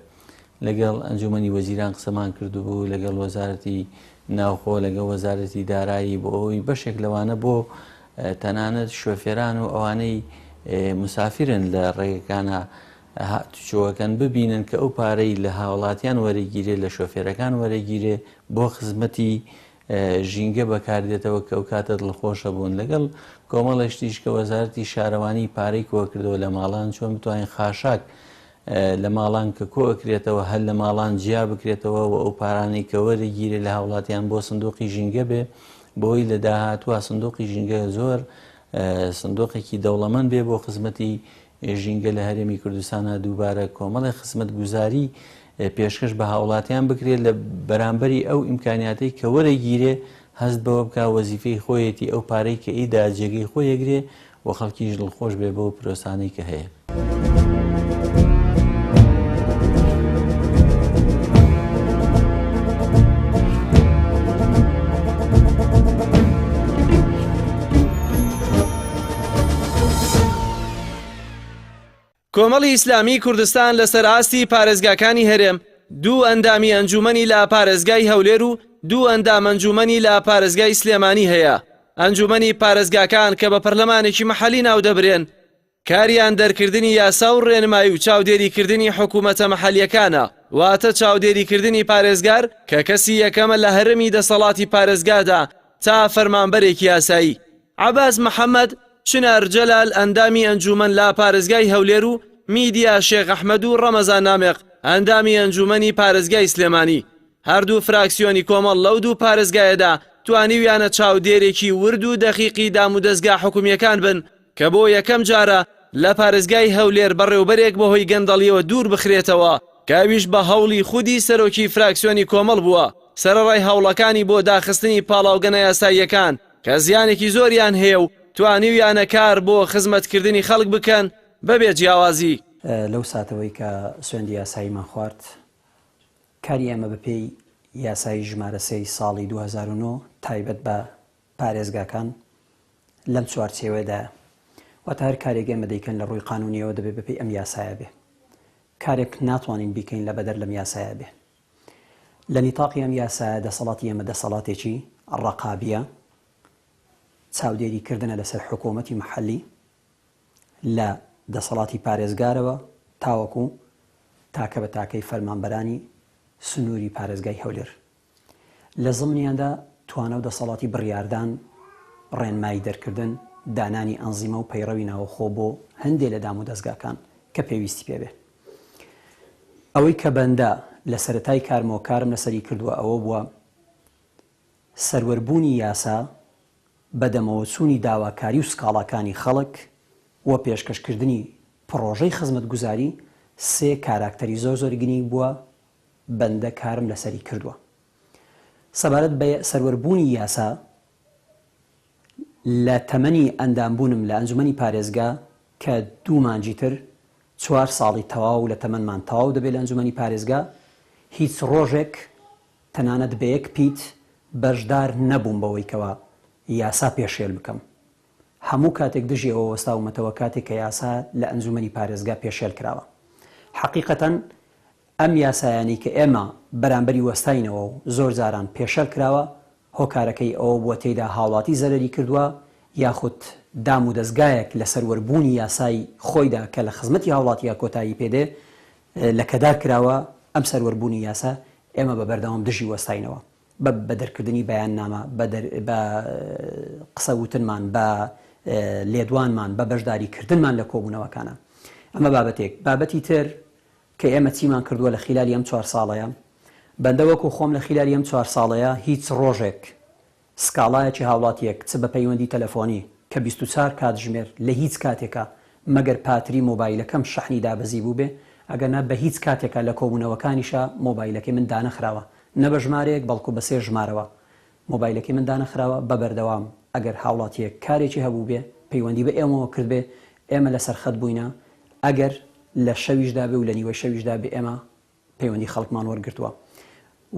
لەگەڵ ئەنجومەنی وەزیران قسەمان کردبوو لەگەڵ وەزارەتی ناوخۆ لەگە وەزارەتی دارایی بۆ ئەوی بەشێک لەوانە بۆ تەنانەت شۆفێران و ئەوانەی مسافرن لە ڕێگەکانە هاتوچۆەکەن ببینن کە ئەو پارەی لە هاوڵاتیان وەرەگیرێ لە شۆفێرەکان وەرەگیرێ بۆ خزمەتی ژینگە بەکاردێتەوە کە ئەوکاتە دڵخۆشە بوون لەگەڵ کۆمەڵێ شتیش کە وەزارەتی شارەوانی پارەی کۆکردەوە لە ماڵان چۆن بتوانین خاشاک لە ماڵان کە کۆ ئەکرێتەوە هەر لە ماڵان جیا بکرێتەوە و ئەو پارانەی کە وەرەگیرێ لە هاوڵاتیان بۆ سندوقی ژینگە بێ بۆی لە داهاتوە سندوقی ژینگە زۆر سندوقێکی دەوڵەمەند بێ بۆ خزمەتی ژینگە لە هەرێمی کوردستانا دووبارە کۆمەڵێ خزمەتگوزاری پێشکەش بە هاوڵاتیان بکرێت لە بەرامبەری ئەو ئیمکانیاتەی کە وەرەگیرێ هەست بەوە بکا وەزیفەی خۆیەتی ئەو پارەی کە ئیدا جێگەی خۆی یەگرێ و خەڵکیش دڵخۆش بێ بەو پرۆسانەی کە هەیە.
کۆمەڵی ئیسلامیی کوردستان لەسەر ئاستی پارێزگاکانی هەرێم، دوو ئەندامی ئەنجوومەنی لە پارێزگای هەولێر و دوو ئەندام ئەنجوومەنی لە پارێزگای سلێمانی هەیە. ئەنجوومەنی پارێزگاکان کە بە پەرلەمانێکی مەحەلی ناو دەبرێن، کاریان دەرکردنی یاسا و رێنمایی و چاودێریکردنی حکوومەتە مەحەلییەکانە، واتە چاودێریکردنی پارێزگار کە کەسی یەکەمە لە هەرێمی دەسەڵاتی پارێزگادا تا فەرمانبەرێکی ئاسایی. عەباس محەمەد، چنار جەلال، ئەندامی ئەنجوومەن لە پارێزگای هەولێر و میدیا شێخ ئەحمەد و ڕەمەزان نامق، ئەندامی ئەنجوومەنی پارێزگای سلێمانی. هەردوو فراکسیۆنی کۆمەڵ لەو دوو پارێزگایەدا توانیویانە چاودێرێکی ورد و دەقیقی دامودەزگا حکومییەکان بن کە بۆ یەکەم جارە لە پارێزگای هەولێر بەڕێوبەرێک بەهۆی گەندەڵییەوە دوور بخرێتەوە کە ئەویش بە هەوڵی خودی سەرۆکی فراکسیۆنی کۆمەڵ بووە سەرەڕای هەوڵەکانی بۆ داخستنی پاڵاوگە نایاساییەکان کە زیانێکی زۆریان هەیە و توانیویانە کار بۆ خزمەتکردنی خەڵک بکەن بەبێ جیاوازی. لەو ساتەوەی
کە سوێندی یاساییمان خوارد، کاری ئێمە بەپێی یاسای ژمارە سێی ساڵی دوو هەزار و نۆ تایبەت بە پارێزگاکان لەم چوارچێوەیەدایە، واتە هەر کارێک ئێمە دەیکەن لە ڕووی قانونییەوە دەبێ بەپێی ئەم یاسایە بێ. کارێک ناتوانین بیکەین لە بەدەر لەم یاسایە بێ. لە نیتاقی ئەم یاسایە دەسەڵاتی ئێمە دەسەڵاتێکی ڕەقابیە، چاودێری کردنە لەسەر حکۆمەتی محەلی لە دەسەڵاتی پارێزگارەوە تاوەکو تاکە بە تاکەی فەرمانبەرانی سنووری پارێزگای هەولێر. لە زمنیاندا توانە و دەسەڵاتی بڕیاردان، ڕێنمایی دەرکردن، دانانی ئەنزیمە و پەیڕەوی ناوەخۆ بۆ هەندێ لە دامودەزگاکان کە پێویستی پێبێ. ئەوەی کە بەندە لە سەرەتای کارمەوە کارم لەسەری کردووە ئەوە بووە سەروەر بوونی یاسا، بەدەمەوە چوونی داواکاری و سکاڵاکانی خەڵک و پێشکەش کردنی پڕۆژەی خزمەتگوزاری، سێ کاراکتەری زۆر زۆر گرینگ بووە بەندە کارم لەسەری کردووە. سەبارەت بە سەروەر بوونی یاسا، لە تەمەنی ئەندامبوونم لە ئەنجومەنی پارێزگا کە دوو مانگی تر چوار ساڵی تەواو لە تەمەنمان تەواو دەبێت لە ئەنجومەنی پارێزگا، هیچ ڕۆژێک تەنانەت بە یەک پیت بەشدار نەبووم بەوەی کەوا یاسا پێشێل بکەم. هەموو کاتێک دژی ئەوە وەستاومەتەوە کاتێک کە یاسا لە ئەنجومەنی پارێزگا پێشێل کراوە. حەقیقەتەن ئەم یاسایانەی کە ئێمە بەرامبەری وەستاینەوە و زۆر جاران پێشەل کراوە، هۆکارەکەی ئەوە بووە تێیدا هاوڵاتی زەرەری کردووە یاخود دام و دەزگایەک لە سەروەر بوونی یاسای خۆیدا کە لە خزمەتی هاوڵاتییە کۆتایی پێ دێ لەکەدار کراوە، ئەم سەروەر بوونی یاسا ئێمە بە بەردەوام دژی وەستاینەوە بە بە دەرکردنی بەیاننامە بە دەر بە قسە وتنمان بە لێدوانمان بە بەشداری کردنمان لە کۆبوونەوەکانا ئەمە بابەتێک بابەتی تر کە ئێمە چیمان کردووە لە خیلالی ئەم چوار ساڵەیا، بەندە وەکو خۆم لە خیلالی ئەم چوار ساڵەیا هیچ ڕۆژێک سکاڵایەکی هاوڵاتییەک چ بە پەیوەندی تەلەفۆنی کە بیست و چار کاتژمێر لە هیچ کاتێکا مەگەر پاتری مۆبایلەکەم شەحنی دابەزی بووبێ ئەگەرنا بە هیچ کاتێکا لە کۆبوونەوەکانیشا مۆبایلەکەی من دانەخراوە نە بە ژمارەیەک بەڵکو بە سێ ژمارەوە مۆبایلەکەی من دانەخراوە بە بەردەوام ئەگەر هاوڵاتیەک کارێکی هەبووبێ پەیوەندی بە ئێمەوە کردبێ ئێمە لەسەر خەت بووینە ئەگەر لە شەویشدا بێ و لە نیوەی شەویشدا بێ ئێمە پەیوەندی خەڵکمان وەرگرتووە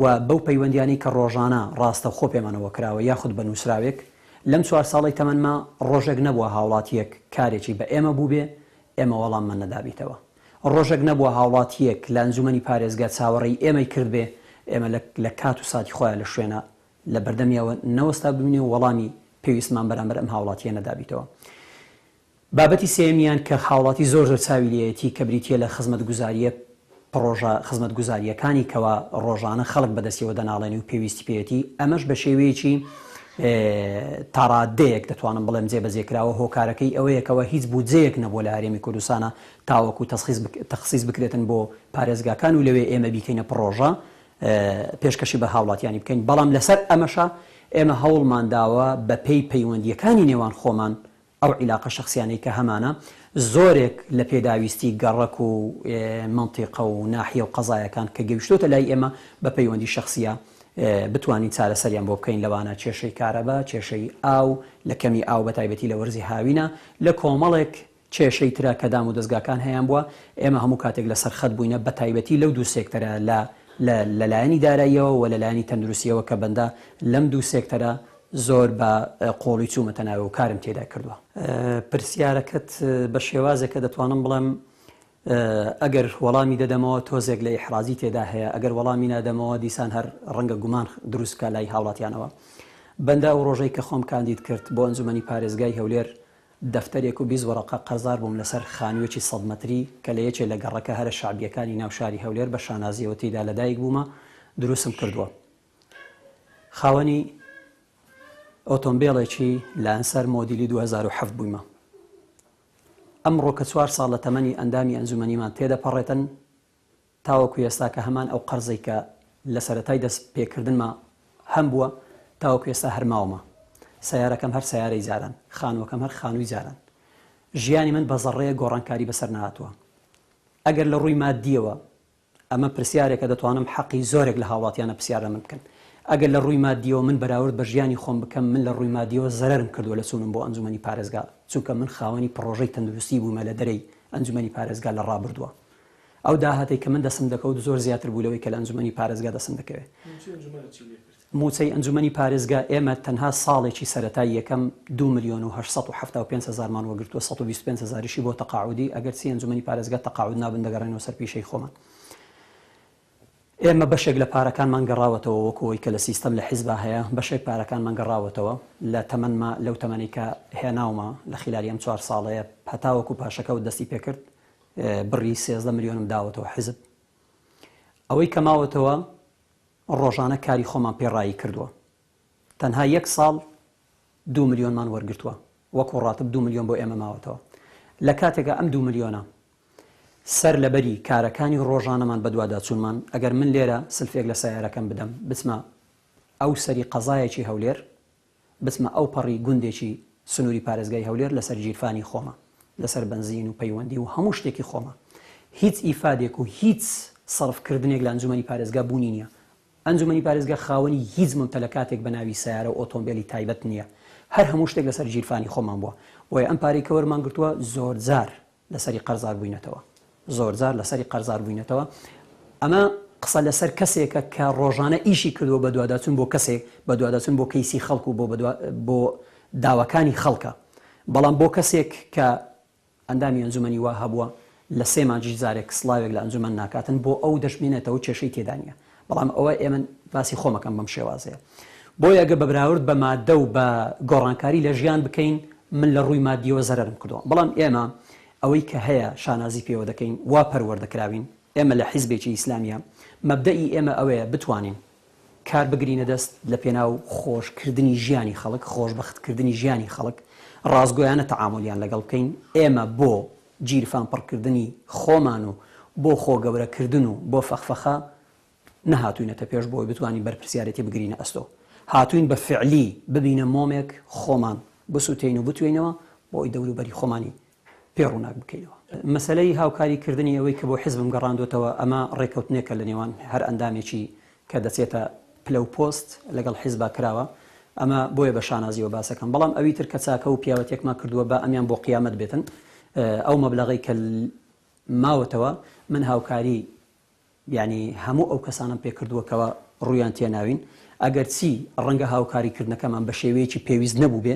و بەو پەیوەندیانەی کە ڕۆژانە ڕاستەوخۆ پێمانەوە کراوە یاخود بە نووسراوێک لەم چوار ساڵەی تەمەنما ڕۆژێک نەبووە هاوڵاتیەک کارێکی بە ئێمە بووبێ ئێمە وەڵاممان نەدابیتەوە. ڕۆژێک نەبووە هاوڵاتییەک لە ئەنجومەنی پارێزگا چاوەڕێی ئێمەی کردبێ، ئێمە لە لە کات و ساتی خۆیا لە شوێنا لە بەردەمیەوە نەوەستابووینێ و وەڵامی پێویستمان بەرامبەر ئەم هاوڵاتییە نەدابیتەوە. بابەتی سێیەمیان کە هاوڵاتی زۆر زۆر چاوی لێیەتی کە بریتییە لە خزمەتگوزارییە پڕۆژە خزمەتگوزارییەکانی کەوا ڕۆژانە خەڵک بەدەستیەوە دەناڵێنێ و پێویستی پێیەتی، ئەمەش بە شێوەیەکی تاڕاددەیەک دەتوانم بڵێم جێبەجێ کراوە، هۆکارەکەی ئەوەیە کەوا هیچ بودجەیەک نەبووە لە هەرێمی کوردستانا تاوەکو تەخسیس بکرێتن بۆ پارێزگاکان و لەوێ ئێمە بیکەینە پڕۆژە پێشکەشی بە هاوڵاتیانی بکەین بەڵام لەسەر ئەمەشە ئێمە هەوڵمان داوە بە پێی پەیوەندیەکانی نێوان خۆمان ئەو عیلاقە شخصیانەی کە هەمانە زۆرێک لە پێداویستی گەڕەک و منتیقە و ناحیە و قەزایەکان کە گەوشتۆتە لای ئێمە بە پەیوەندی شخصە بتوانین چارەسەریان بۆ بکەین لەوانە کێشەی کارەبا کێشەی ئاو لە کەمی ئاو بە تایبەتی لە وەرزی هاوینە لە کۆمەڵێک کێشەی ترە کە دام و دەزگاکان هەیان بووە، ئێمە هەموو کاتێک لە سەر خەت بووینە بە تایبەتی لەو دوو سێکتەرە لە لە لە لایەنی داراییەوە و لە لایەنی تەندروستییەوە کە بەندە لەم دوو سێکتەرە زۆر بە قووڵی چوومەتە ناوێ و کارم تێدا کردووە. پرسیارەکەت بە شێوازێکە دەتوانم بڵێم ئەگەر وەڵامی دەدەمەوە تۆزێک لە ئیحرازی تێدا هەیە، ئەگەر وەڵامی نادەمەوە دیسان هەر ڕەنگە گومان دروست بکا لای هاوڵاتیانەوە. بەندە ئەو ڕۆژەی کە خۆم کاندید کرد بۆ ئەنجومەنی پارێزگای هەولێر دەفتەرێک و بیست وەرەقە قەرزار بووم لەسەر خانووێکی سەد مەتری کە لە یەکێ لە گەڕەکە هەرە شەعبییەکانی ناو شاری هەولێر بە شانازییەوە تێیدا لەدایک بوومە دروستم کردووە خاوەنی ئۆتۆمبێڵێکی لانسەر مۆدیلی دوو هەزار و حەفت بوویمە ئەمڕۆ کە چوار ساڵە تەمەنی ئەندامی ئەنجومەنیمان تێدەپەڕێتن تاوەکو ئێستا کە هەمان ئەو قەرزەی کە لە سەرەتای دەست پێکردنما هەم بووە تاوەکو ئێستا هەر ماومە. سەیارەکەم هەر سەیارەی جاران، خانووەکەم هەر خانووی جاران. ژیانی من بە زەڕەیەک گۆڕانکاری بەسەر نەهاتووە. ئەگەر لە ڕووی ماددییەوە ئەمە پرسیارێکە دەتوانم حەقی زۆرێک لە هاوڵاتیانە پرسیار لە من بکەن. ئەگەر لە ڕووی ماددییەوە من بەراورد بە ژیانی خۆم بکەم من لە ڕووی ماددییەوە زەرەرم کردووە لە چوونم بۆ ئەنجوومەنی پارێزگا چونکە من خاوەنی پڕۆژەی تەندروستی بوومە لە دەرەی ئەنجوومەنی پارێزگا لە ڕابردووە. ئەو داهاتەی کە من دەستم دەکەوت زۆر زیاتر بوو لەوەی کە لە ئەنجومەنی پارێزگا دەستم دەکەوێت. مووچەی ئەنجومەنت چی لێ کرد؟ مووچەی ئەنجومەنی پارێزگا ئێمە تەنها ساڵێکی سەرەتای یەکەم دوو ملیۆن و هەشت سەد و حەفتا و پێنج هەزارمان وەگرتووە، سەد و بیست و پێنج هەزاریشی بۆ تەقاعودی، ئەگەرچی ئەنجومەنی پارێزگا تەقاعود نابن دەگەڕێنەوە سەر پیشەی خۆمان. ئێمە بەشێک لە پارەکانمان گەڕاوەتەوە وەکو ئەوەی کە لە سیستەم لە حیزبا هەیە، بەشێک پارەکانمان گەڕاوەتەوە لە تەمەنما لەو تەمەنەی کە هێناومە لە خیلالی ئەم چوار ساڵەیە هەتاوەکو پاشەکەوت دەستی پێکرد بڕی سێزدە ملیۆنم داوەتەوە حزب ئەوەی کە ماوەتەوە ڕۆژانە کاری خۆمان پێ ڕایی کردووە تەنها یەک ساڵ دو ملیۆنمان وەرگتووە وەکو ڕاتب دو ملیۆن بۆ ئێمە ماوەتەوە لە کاتێکە ئەم دو ملیۆنە سەر لەبەری کارەکانی ڕۆژانەمان بەدواداچوونمان ئەگەر من لێرە سلفێک لە سیارەکەم بدەم بچمە ئەو سەری قەزایەکی هەولێر بچمە ئەوپەڕی گوندێکی سنووری پارێزگای هەولێر لەسەر گیرفانی خۆمە، لەسەر بەنزین و پەیوەندی و هەموو شتێکی خۆمە. هیچ ئیفادێک و هیچ سەرف کردنێک لە ئەنجومەنی پارێزگا بوونی نییە. ئەنجومەنی پارێزگا خاوەنی هیچ مەمتەلەکاتێک بە ناوی سەیارە و ئۆتۆمبێلی تایبەت نییە. هەر هەموو شتێک لەسەر گیرفانی خۆمان بووە. بۆیە ئەم پارەی کە وەرمان گرتووە زۆرجار لەسەری قەرزار بووینەتەوە زۆرجار لەسەری قەرزار بووینەتەوە ئەمە قسە لەسەر کەسێکە کە ڕۆژانە ئیشی کردووە بە دوواداچون بۆ کەسێک بە دوواداچون بۆ کەیسی خەڵک و بۆ بۆ داواکانی خەڵکە بەڵام بۆ کەسێک کە ئەندامی ئەنجومنی وا هەبووە لە سێ مانجی جارێک سلاوێک لە ئەنجومەن ناکاتن بۆ ئەو دەشمێنێتەوە کێشەی تێدانە بەڵام ئەوە ئێمە باسی خۆم ئەکەم بەم شێوازەیە بۆیە گە بە براورد بە مادە و بە گۆڕانکاری لە ژیان بکەین من لە ڕووی مادیەوە زەرم کردووە بەڵام ئێمە ئەوەی کە هەیە شانازی پێوە دەکەین وا پەروەردەکراوین ئێمە لە حیزبێکی ئیسلامیە مەبدەئی ئێمە ئەوەیە بتوانین کار بگرینە دەست لە پێناو خۆشکردنی ژیانی خەڵک خۆشببختکردنی ژیانی خەڵک ڕاستگویانە تەعاملیان لەگەڵ بکەین ئێمە بۆ گیرفان پڕکردنی خۆمان و بۆ خۆ گەورە کردن و بۆ فەخفەخە نەهاتووینەتە پێش بۆ ئەوەی بتوانین بەرپرسیارێتی بگرینە ئەستۆ هاتووین بە فعلی ببینە مۆمێک خۆمان بسوتێین و بتوێینەوە بۆ ئەوەی دەورو بەری خۆمانی پێ ڕووناک بکەینەوە. مەسەلەی هاوکاری کردنی ئەوەی کە بۆ حزبم گەڕاندۆتەوە ئەمە ڕێکەوتنێکە لە نێوان هەر ئەندامێکی کە دەچێتە پلە و پۆست لەگەڵ حیزبا کراوە ئەمە بۆیە بە شانازیەوە باسەکەم بەڵام ئەوی تر کە چاکە و پیاوەتیەکمان کردووە با ئەمیان بۆ قیامەت بێتن ئەو مەبلەغەی کە ماوەتەوە من هاوکاری یعنی هەموو ئەو کەسانم پێکردووە کەەوە ڕویان تێناوین ئەگەر چی ڕەنگە هاوکاری کردنەکەمان بە شێوەیەکی پێویست نەبوو بێ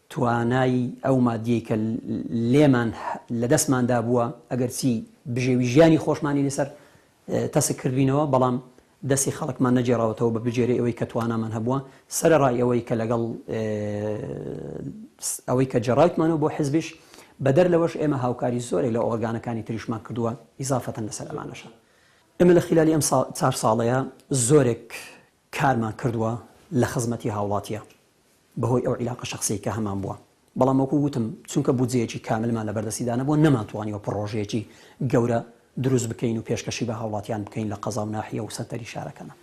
توانای ئەو مادیەی کە لێمان لە دەستمان دابووە ئەگەر چی بژێوی ژیانی خۆشمانی لەسەر تەسک کردوینەوە بەڵام دەستی خەڵکمان نەگێڕاوەتەوە بە بژێری ئەوەی کە توانامان هەبووە سەرەڕای ئەوەی کە لەگەڵ ئەوەی کە جێڕایتمانەوە بۆ حزبیش بەدەر لەوەش ئێمە هاوکاری زۆرێک لە ئۆرگانەکانی تریشمان کردووە ئیزافەتەن لەسەر ئەمانەشە ئێمە لە خیلالی ئەم چار ساڵەیە زۆرێک کارمان کردووە لە خزمەتی هاوڵاتیا بەهۆی ئەو عیلاقە شەخسیەی کە هەمان بووە بەڵام وەکو وتم چونکە بودجەیەکی کاملمان لە بەردەستیدا نەبووە نەمانتوانیوە پڕۆژەیەکی گەورە دروست بکەین و پێشکەشی بە هاوڵاتیان بکەین لە قەزا و ناحیە و سەنتەری شارەکەنا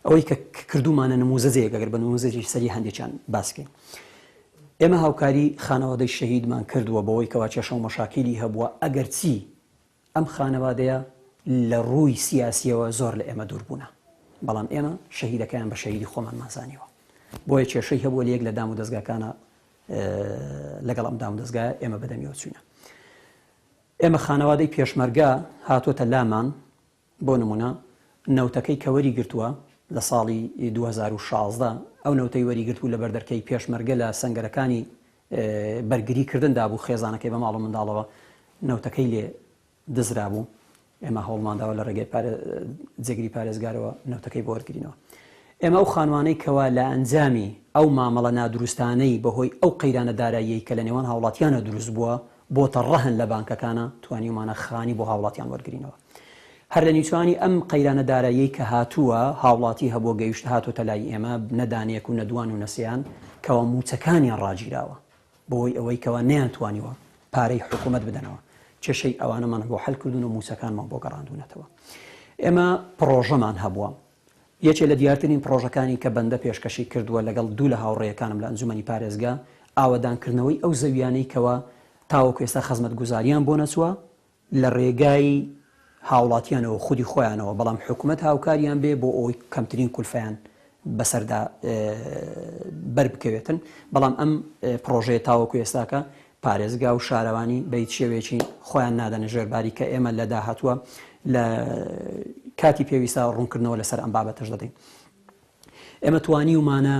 ئەوەی کە کردومانە نموزەجەیەک ئەگەر بە نموزەجی سەری هەندێکیان باس بکەین ئێمە هاوکاری خانەوادەی شەهیدمان کردووە بەوەی کەوا کێشە و مەشاکیلی هەبووە ئەگەرچی ئەم خانەوادەیە لە ڕووی سیاسییەوە زۆر لە ئێمە دوور بوونە، بەڵام ئێمە شەهیدەکەیان بە شەهیدی خۆمانمان زانیوە، بۆیە کێشەی هەبووە لە یەک لە دامودەزگاکانە لەگەڵ ئەم دامودەزگایە ئێمە بەدەمیەوە چووینە. ئێمە خانەوادەی پێشمەرگە هاتۆتە لامان بۆ نموونە نەوتەکەی کە وەریگرتووە لە ساڵی دوو هەزار و شازدە، ئەو نەوتەی وەریگرتبوو لە بەردەرکەی پێشمەرگە لە سەنگەرەکانی بەرگری کردن دابوو، خێزانەکەی بە ماڵ و منداڵەوە نەوتەکەی لێ دزرابوو، ئێمە هەوڵمان داوە لە ڕێگەی جێگری پارێزگارەوە نەوتەکەی بۆ وەرگرینەوە. ئێمە ئەو خانمانەی کەوا لە ئەنجامی ئەو مامەڵە نادروستانەی بەهۆی ئەو قەیرانە داراییەی کە لە نێوان هاوڵاتیانە دروست بووە، بۆتە ڕەهەن لە بانکەکانا توانیومانە خانی بۆ هاوڵاتیان وەرگرینەوە هەر لە نیچانی ئەم قەیرانە داراییەی کە هاتووە هاوڵاتی هەبووە گەیشت هاتۆتە لای ئێمە نە دانەیەک و نە دوان و نە سێیان کەوا مووچەکانیان ڕاگیراوە بەوەی ئەوەی کەوا نەیان توانیوە پارەی حکومەت بدەنەوە کێشەی ئەوانەمان بۆ حەل کردوون و مووچەکانمان بۆ گەڕاندوونەتەوە ئێمە پڕۆژەمان هەبووە یەکێ لە دیارترین پڕۆژەکانی کە بەندە پێشکەشی کردووە لەگەڵ دوو لە هاوڕێیەکانم لە ئەنجومەنی پارێزگا، ئاوەدانکردنەوەی ئەو زەوییانەی کەوا تاوەکو ئێستا خزمەتگوزارییان بۆ نەچووە، لە ڕێگای هاوڵاتییانەوە و خودی خۆیانەوە، بەڵام حکومەت هاوکاریان بێ بۆ ئەوەی کەمترین کولفەیان بەسەردا بەربکەوێتن، بەڵام ئەم پڕۆژەیە تاوەکو ئێستاکە پارێزگا و شارەوانی بە هیچ شێوەیەکی خۆیان نادەنە ژێر باری کە ئێمە لە داهاتووە لە کاتی پێویستە ڕوونکردنەوە لەسەر ئەم بابەتەش دەدەین ئێمە توانیومانە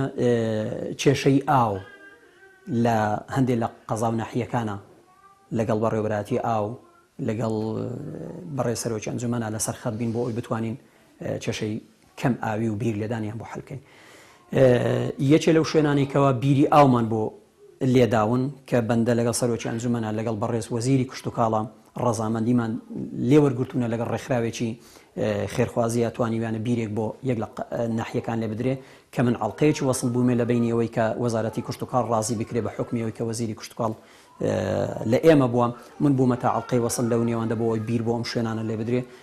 کێشەی ئاو لە هەندێک لە قەزا و ناحیەکانە لەگەڵ بەڕێوەبراتی ئاو لەگەڵ بەڕێ سەرۆکی ئەنجومەنا لەسەر خەت بین بۆ ئەوی بتوانین کێشەی کەم ئاوی و بیر لێدانیان بۆ حەلکەین یەکێ لەو شوێنانی کەوا بیری ئاومان بۆ لێداون کە بەندە لەگەڵ سەرۆکی ئەنجومەنە لەگەڵ بەڕێز وەزیری کشت و کاڵە ڕەزامەندیمان لێوەرگرتوونە لەگەڵ ڕێکخراوێکی خێرخوازیە توانیویانە بیرێک بۆ یەک لە ناحیەکان لێ بدرێ کە من ئەڵلقەیەکی وەسل بوومێ لە بینیەوەی کە وەزارەتی کشتتوکار ڕازی بکرێ بە حکمیەوەی کە وەزیری کشتتوکاڵ لە ئێمە بووە من بوومە تا ئەڵلقەی وەسل لەو نێوەندە بۆەوەی بیر بۆ ئەم شوێنانە لێ بدرێ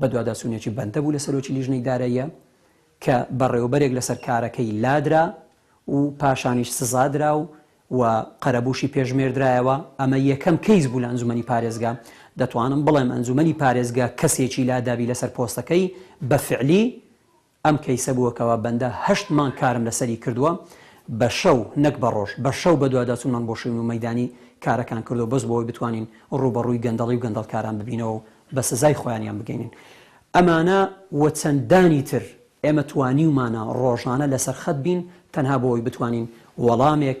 بەدواداچوونێکی بەندە بوو لە سەرۆکی لیژنەی داراییە کە بەڕێوەبەرێک لەسەر کارەکەی لادرا و پاشانیش سزا درا و و قەرەبووشی پێش نێردرایەوە، ئەمە یەکەم کەیس بوو لە ئەنجومەنی پارێزگا، دەتوانم بڵێم ئەنجومەنی پارێزگا کەسێکی لادابی لەسەر پۆستەکەی بە فعلی، ئەم کەیسە بووە کەوا بەندە هەشت مانگ کارم لەسەری کردووە بە شەو نەک بە ڕۆژ بە شەو بەدواداچونمان بۆ شوین و مەیدانی کارەکان کردووە بەس بۆ ئەوەی بتوانین ڕووبەڕووی گەندەڵی و گەندەڵکاران ببینەوە و بە سزای خۆیانیان بگەینین ئەمانە و چەندانی تر ئێمە توانیومانە ڕۆژانە لەسەر خەت بین تەنها بۆ ئەوەی بتوانین وەڵامێک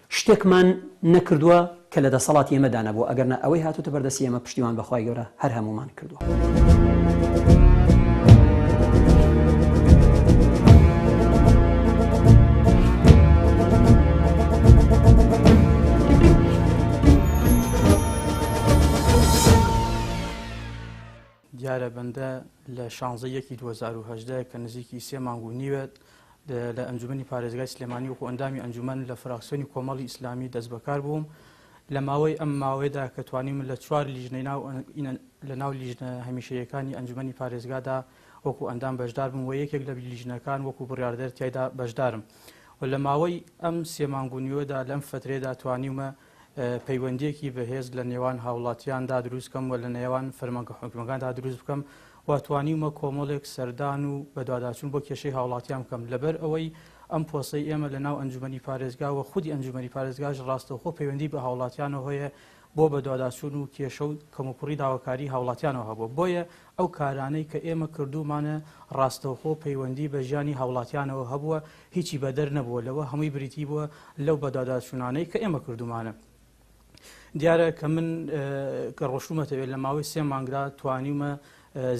شتێکمان نەکردووە کە لە دەسەڵاتی ئێمەدا نەبووە ئەگەر نا ئەوەی هاتووتە بەر دەستی ئێمە پشتیوان بە خوای گەورە هەر هەموومان کردووە.
دیارە بەندە لە شانزدە ی یەکی دوو هەزار و هەژدە کە نزیکی سێ مانگ و نیوە لە ئەنجومەنی پارێزگای سلێمانی وەکو ئەندامی ئەنجومەن لە فراکسیۆنی کۆمەڵی ئیسلامی دەستبەکار بووم لە ماوەی ئەم ماوەیەدا کە توانیم لە چوار لیژنەی ناو لە ناو لیژنە هەمیشەیەکانی ئەنجومەنی پارێزگادا وەکو ئەندام بەشدار بووم و یەکێک لە لیژنەکان وەکو بڕاردەر تایدا بەشدارم و لە ماوەی ئەم سێ مانگ و نیوەدا لەم فترێدا توانیومە پەیوەندییەکی بەهێز لە نێوان هاوڵاتیاندا دروست کەم و لە نێوان فەرمانگە حکومیەکاندا دروست بکەم و توانیومە کۆمەڵێک سەردان و بەدواداچون بۆ کێشەی هاوڵاتیان بکەم لەبەر ئەوەی ئەم پۆسەی ئێمە لە ناو ئەنجومەنی پارێزگا و خودی ئەنجومەنی پارێزگاش ڕاستەوخۆ پەیوەندی بە هاوڵاتیانەوە هەیە بۆ بەدواداچون و کێشە و کەموکوڕی داواکاری هاوڵاتیانەوە هەبووە بۆیە ئەو کارانەی کە ئێمە کردوومانە ڕاستەوخۆ پەیوەندی بە ژیانی هاوڵاتیانەوە هەبووە، هیچی بەدەر نەبووە لەوە، هەمووی بریتی بووە لەو بەدواداچوونانەی کە ئێمە کردوومانە. دیارە کە من کە ڕۆشتوومەتەوێ لە ماوەی سێ مانگدا توانیومە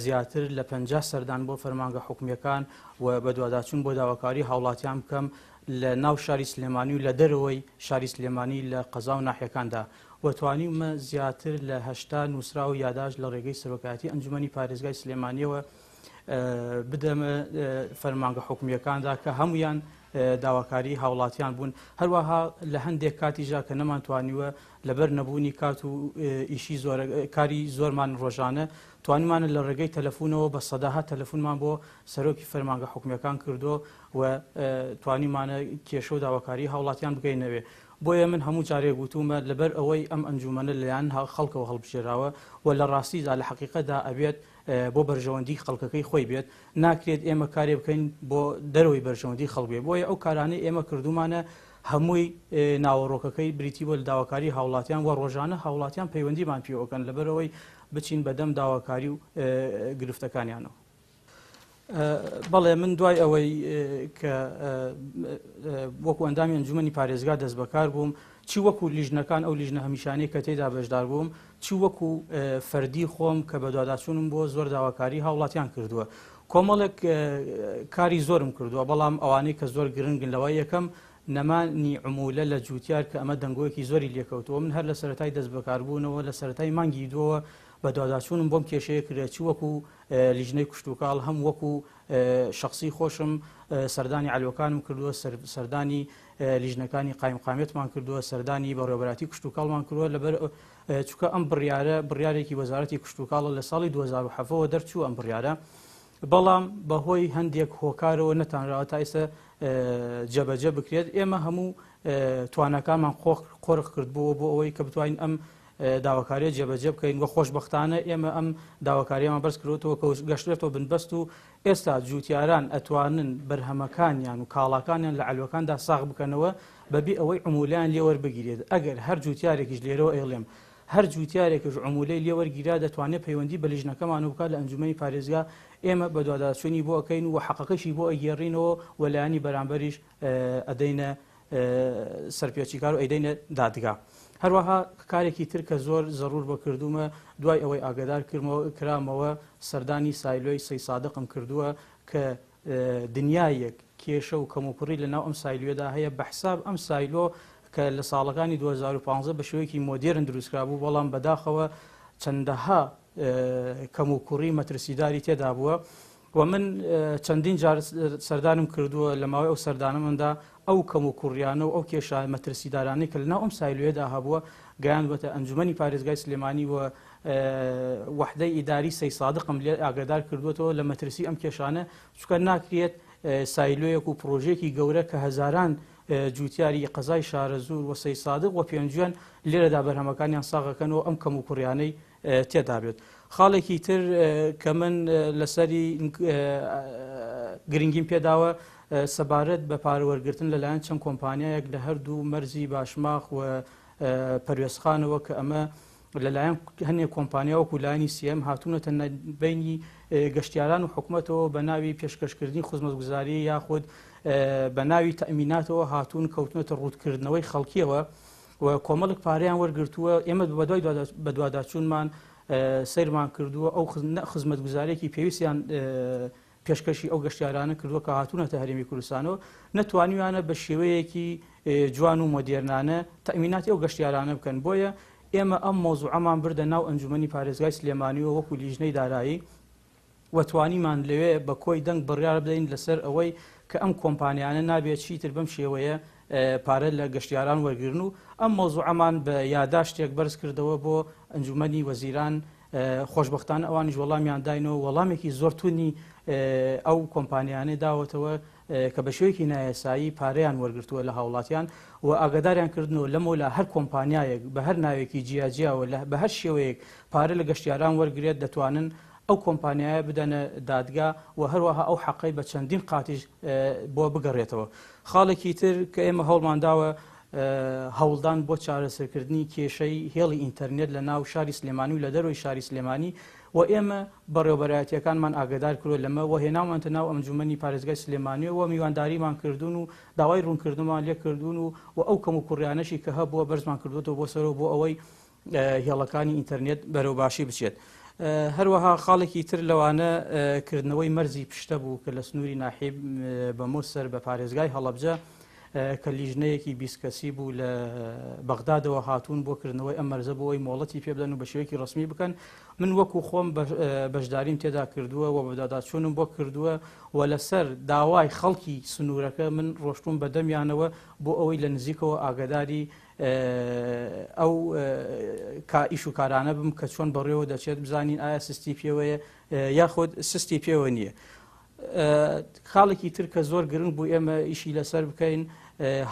زیاتر لە پەنجا سەردان بۆ فەرمانگە حکومییەکان و بەدواداچوون بۆ داواکاری هاوڵاتیان بکەم لە ناو شاری سلێمانی و لە دەرەوەی شاری سلێمانی لە قەزا و ناحیەکاندا. و توانیومە زیاتر لە هەشتا نووسراو و یاداشت لە ڕێگەی سەرۆکایەتی ئەنجومەنی پارێزگای سلێمانیەوە بدەمە فەرمانگە حکومییەکاندا کە هەمویان داواکاری هاوڵاتیان بوون هەروەها لە هەندێک کاتیژا کە نەمانتوانیوە لەبەر نەبوونی کات و ئیشی کاری زۆرمان ڕۆژانە توانمانە لە ڕێگەی تەلەفونەوە بە سەداها تەلەفونمان بۆ سەرۆکی فەرمانگە حکومیەکان کردو و توانیمانە کێشە و داواکاری هاوڵاتیان بگەینەوێ بۆیە من هەموو جارێک وتوومە لەبەر ئەوەی ئەم ئەنجوومەنە لەلایەن خەڵکەوە هەڵبژێراوە و لە ڕاستیدا لە حەقیقەتدا ئەبێت بۆ بەرژەوەندیی خەڵکەکەی خۆی بێت، ناکرێت ئێمە کارێ بکەین بۆ دەرەوەی بەرژەوەندیی خەڵک بێت، بۆیە ئەو کارانەی ئێمە کردوومانە هەمووی ناوەڕۆکەکەی بریتی بووە لە داواکاریی هاوڵاتیان و ڕۆژانە هاوڵاتیان پەیوەندیمان پێوە ئەکەن لەبەر ئەوەی بچین بەدەم داواکاری و گرفتەکانیانەوە. بەڵێ من دوای ئەوەی کە وەکو ئەندامی ئەنجومی پارێزگا دەست بەکار بووم چی وەکو لیژنەکان ئەو لیژنە هەمیشانەی کە تێدا بەشدار بووم چی وەکو فەردی خۆم کە بەدواداچوونم بۆ زۆر داواکاری هاوڵاتیان کردووە کۆمەڵێک کاری زۆرم کردووە بەڵام ئەوانەی کە زۆر گرنگن لەوە یەکەم نەمانی عمولە لە جوتیار کە ئەمە دەنگۆیەکی زۆری لێکەوتەوە من هەر لە سەرای دەست بەکاربوونەوە لە سەرای مانگی دووە بە دواداچوونم بۆم کێشەیە کرێت چی وەکو لیژنەی کشتوکاڵ هەم وەکو شەخسی خۆشم سەردانی عەلوەکانم کردووە، سەردانی لیژنەکانی قایمقامیەتمان کردووە، سەردانی بەڕێوەبەراتی کشتوکاڵمان کردووە، لەبەر چونکە ئەم بڕیارە بڕیارێکی وەزارەتی کشتوکاڵە لە ساڵی 2007ەوە دەرچوو ئەم بڕیارە بەڵام بەهۆی هەندێک هۆکارەوە نەتانراوە تا ئێستا جەبەجە بکرێت ئێمە هەموو توانەکانمان قۆرخ کردبووە بۆ ئەوەی کە بتوانین ئەم داواکاریە جێبەجێ بکەین وە خۆشبەختانە ئێمە ئەم داواکاریەمان بەرز کردوەوە کە گەشتێتەوە بنبەست و ئێستا جووتیاران ئەتوانن بەرهەمەکانیان و کاڵاکانیان لە عەلوەکاندا ساغ بکەنەوە بەبێ ئەوەی عمولیان لێوەربگیرێت ئەگەر هەر جووتیارێکیش لێرەوە ئەیڵێم هەر جووتیارێکش عمولەی لێوەرگیرا دەتوانێت پەیوەندی بە لیژنەکەمان و بکات لە ئەنجومەنی پارێزگا ئێمە بەدواداچوونی بۆ ئەکەین و حەقەکەشی بۆ ئەگێڕینەوە و لایەنی بەرامبەریش ئەدەینە سەرپێچیکار و ئەیدەینە دادگا. هەروەها کارێکی تر کە زۆر زەڕوور بە کردوومە، دوای ئەوەی ئاگەدار کرامەوە سەردانی سایلۆی سەی سادقم کردووە کە دنیایەک کێشە و کەموکوڕی لە ناو ئەم سایلۆیەدا هەیە، بە حساب ئەم سایلۆ کە لە ساڵەکانی دوو هەزار و پازدە بە شێوەیەکی مۆدێرن دروستکرابوو، بەڵام بەداخەوە چەندەها کەموکوڕی مەترسیداری تێدا بووە و من چەندین جار سەردانم کردووە لە ماوەی ئەو سەردانەمەدا ئەو کەم و کوڕیانە و ئەو کێشە مەترسیدارانەی کە لەناو ئەم سایلوێدا هەبووە گەیاندوەتە ئەنجومی پارێزگای سلێمانی و وەحدەی ئیداری سەی سادقم لێ ئاگدار کردوێتەوە لە مەترسی ئەم کێشانە چکە ناکرێت سایلۆیەک و پرۆژێکی گەورە کە هەزاران جوتیاری قەزای شارەزور و سەی سادق و پێنجوێن لێرەدا بەرهەمەکانیان ساغەکەنەوە ئەم کەم و کوڕیانەی تێدا بێت خاڵێکی تر کە من لەسەری گرنگیم پێداوە سەبارەت بە پارە وەرگتن لەلایەن چەند کۆمپانیایەک لە هەردوو مەرزی باشماخ و پەروێزخانەوە کە ئەمە لەلایەن هەنێک کۆمپانیا وەکو لایانی سیەم هاتوونەتە بینی گەشتیاران و حکوومەتەوە بە ناوی پێشکەشکردنی خزمەتگوزاری یاخود بە ناوی تەمیناتەوە هاتوون کەوتنەتە ڕووتکردنەوەی خەڵکیەوە و کۆمەڵێک پارەیان وەرگرتووە، ئێمە بەدوای بەدواداچوونمان سەیرمان کردووە ئەو خزمەتگوزاریەکی پێویستیان پێشکەشی ئەو گەشتیارانە کردووە کە هاتوونەتە هەرێمی کوردستانەوە نەتوانیویانە بە شێوەیەکی جوان و مۆدیێرنانە تەمیناتی ئەو گەشتیارانە بکەن بۆیە ئێمە ئەم مۆزوعەمان بردە ناو ئەنجومی پارێزگای سلێمانیوە وەکو لیژنەی دارایی و توانیمان لەوێ بە کۆی دەنگ بڕیار بدەین لەسەر ئەوەی کە ئەم کۆمپانیانە نابێ چیتر بەم شێوەیە پارە لە گەشتیاران وەرگرن و ئەم مەوزوعەمان بە یاداشتێک بەرز کردەوە بۆ ئەنجومەنی وەزیران خۆشبەختانە ئەوانیش وەڵامیان داینەوە وەڵامێکی زۆر تونی ئەو کۆمپانیانەی داوەتەوە کە بە شێوەیەکی نایاسایی پارەیان وەرگرتووە لە هاوڵاتیان و ئاگاداریان کردنەوە لەمەولا هەر کۆمپانیایەک بە هەر ناوێکی جیا جیاوە لە بە هەر شێوەیەک پارە لە گەشتیاران وەرگرێت دەتوانن ئەو کۆمپانیایە بدەنە دادگا و هەروەها ئەو حەقەی بە چەندین قاتیش بۆ بگەڕێتەوە خاڵێکی تر کە ئێمە هەوڵمان داوە هەوڵدان بۆ چارەسەرکردنی کێشەی هێڵی ئینتەرنێت لە ناو شاری سلێمانی و لە دەروی شاری سلێمانی و ئێمە بەڕێوەبەرایەتییەکانمان ئاگەدار کردووە لەمە و هێناومانتە ناو ئەنجوومەنی پارێزگای سلێمانی و میوانداریمان کردوون و داوای روونکردنمان لێ کردوون و و ئەو کەموکوڕییانەشی کە هەبووە بەرزمان کردووەتەوە بۆ سەرەوە بۆ ئەوەی هێڵەکانی ئینتەرنێت بەرەو باشی بچێت. هەروەها خاڵێکی تر لەوانە کردنەوەی مەرزی پشتە بوو کە لە سنووری ناحیب بەمۆس سەر بە پارێزگای هەڵەبجە کە لیژنەیەکی بیست کەسی بوو لە بەغدادەوە هاتوون بۆ کردنەوەی ئەم مەرزە بۆ ئەوی مۆڵەتی پێبدەن و بە شێوەیەکی ڕسمی بکەن من وەکو خۆم بەشداریم تێدا کردووە و بەدادا چوونم بۆ کردووە و لەسەر داوای خەڵکی سنوورەکە من ڕۆشتوم بە دەمیانەوە بۆ ئەوەی لە نزیکەوە ئاگداری ئەو کائیش و کارانە بم کە چۆن بەڕێوە دەچێت بزانین ئایا سستی پێوەیە یاخود سستی پێوە نییە. خاڵێکی تر کە زۆر گرنگ بوو ئێمە ئیشی لەسەر بکەین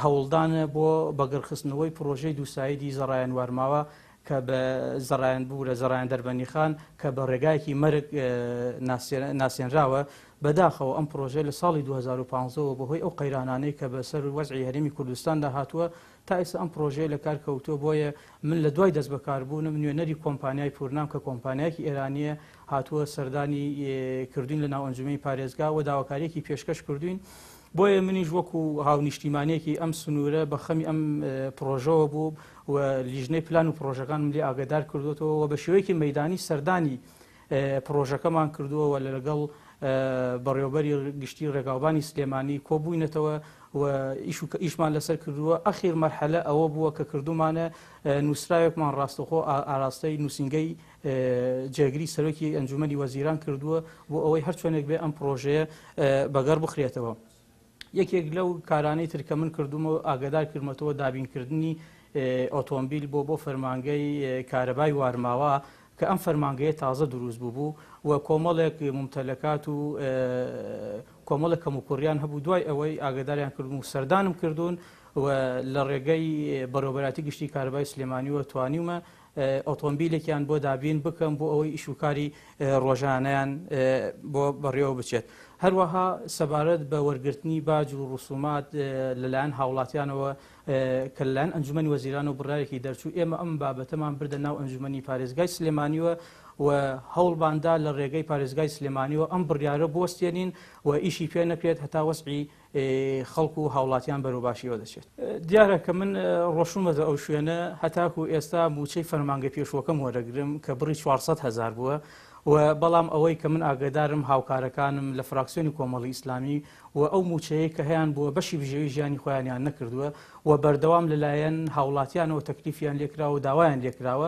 هەوڵدانە بۆ بەگەڕخستنەوەی پرۆژەی دووسایدی زەڕایەن وارماوە کە بە زەڕایەن بوورە زەڕایەن دەربەنی خان کە بە ڕێگایەکی مەرگ ناسێنراوە بەداخەوە ئەم پرۆژە لە ساڵی 2015ەوە بەهۆی ئەو قەیرانانەی کە بەسەر وەزعی هەرێمی کوردستاندا هاتووە تا ئێستا ئەم پڕۆژەیە لە کار کەوتووە، بۆیە من لە دوای دەست بەکار بوونم نوێنەری کۆمپانیای پورنام کە کۆمپانیایەکی ئێرانییە هاتووە سەردانی کردووین لە ناو ئەنجومەنی پارێزگا و داواکارییەکی پێشکەش کردووین، بۆیە منیش وەکو هاونیشتیمانێکی ئەم سنوورە بە خەمی ئەم پڕۆژەوە بووم و لیژنەی پلان و پڕۆژەکانم لێ ئاگەدار کردووەتەوە و بە شێوەیەکی مەیدانی سەردانی پڕۆژەکەمان کردووە و لەگەڵ بەڕێوەبەری گشتی ڕێگاوبانی سلێمانی کۆبووینەتەوە و ئیشمان لەسەر کردووە ئەخیر مەرحەلە ئەوە بووە کە کردومانە نووسراوێکمان ڕاستەخۆ ئاراستەی نووسنگەی جێگری سەرۆکی ئەنجومی وەزیران کردووە بۆ ئەوەی هەرچۆنێک بێ ئەم پرۆژەیە بەگەڕ بخرێتەوە. یەکێک لەو کارانەی تر کە من کردومە و ئاگادار کردمەتەوە دابینکردنی ئۆتۆمبیل بۆ بۆ فەرمانگەی کارەبای وارماوا کە ئەم فەرمانگەیە تازە دروست بووبوو و کۆمەڵێک ممتەلەکات و کۆمەڵە کەم و کوڕیان هەبوو دوای ئەوەی ئاگداریان کردم و سەردانم کردوون و لە ڕێگەی بەڕێوبەراتی گشتی کاربای سلێمانیوە توانیومە ئۆتۆمبیلێکیان بۆ دابین بکەم بۆ ئەوەی ئیشوکاری ڕۆژانیان بۆ بەڕێوە بچێت هەروەها سەبارەت بە وەرگرتنی باج و ڕسومات لەلایەن هاوڵاتیانەوە کە لەلایەن ئەنجومی وەزیران و بڕارێکی دەرچوو ئێمە ئەم بابەتەمان بردە ناو ئەنجومی پارێزگای سلێمانیوە و هەوڵباندا لە ڕێگەی پارێزگای سلێمانیەوە ئەم بڕیارە بۆستێنین و ئیشی پێ نەکرێت هەتا وەسعی خەڵک و هاوڵاتیان بەرەو باشیەوە دەچێت. دیارە کە من ڕۆشتومەتە ئەو شوێنە هەتاکو ئێستا مووچەی فەرمانگە پێشووەکەم وەرەگرم کە بڕی چوار سەد هەزار بووە و بەڵام ئەوەی کە من ئاگەدارم هاوکارەکانم لە فراکسیۆنی کۆمەڵی ئیسلامی و ئەو مووچەیە کە هەیان بووە بەشی بژێوی ژیانی خۆیانیان نەکردووە و بەردەوام لەلایەن هاوڵاتیانەوە تەکلیفیان لێکراوە و داوایان لێکراوە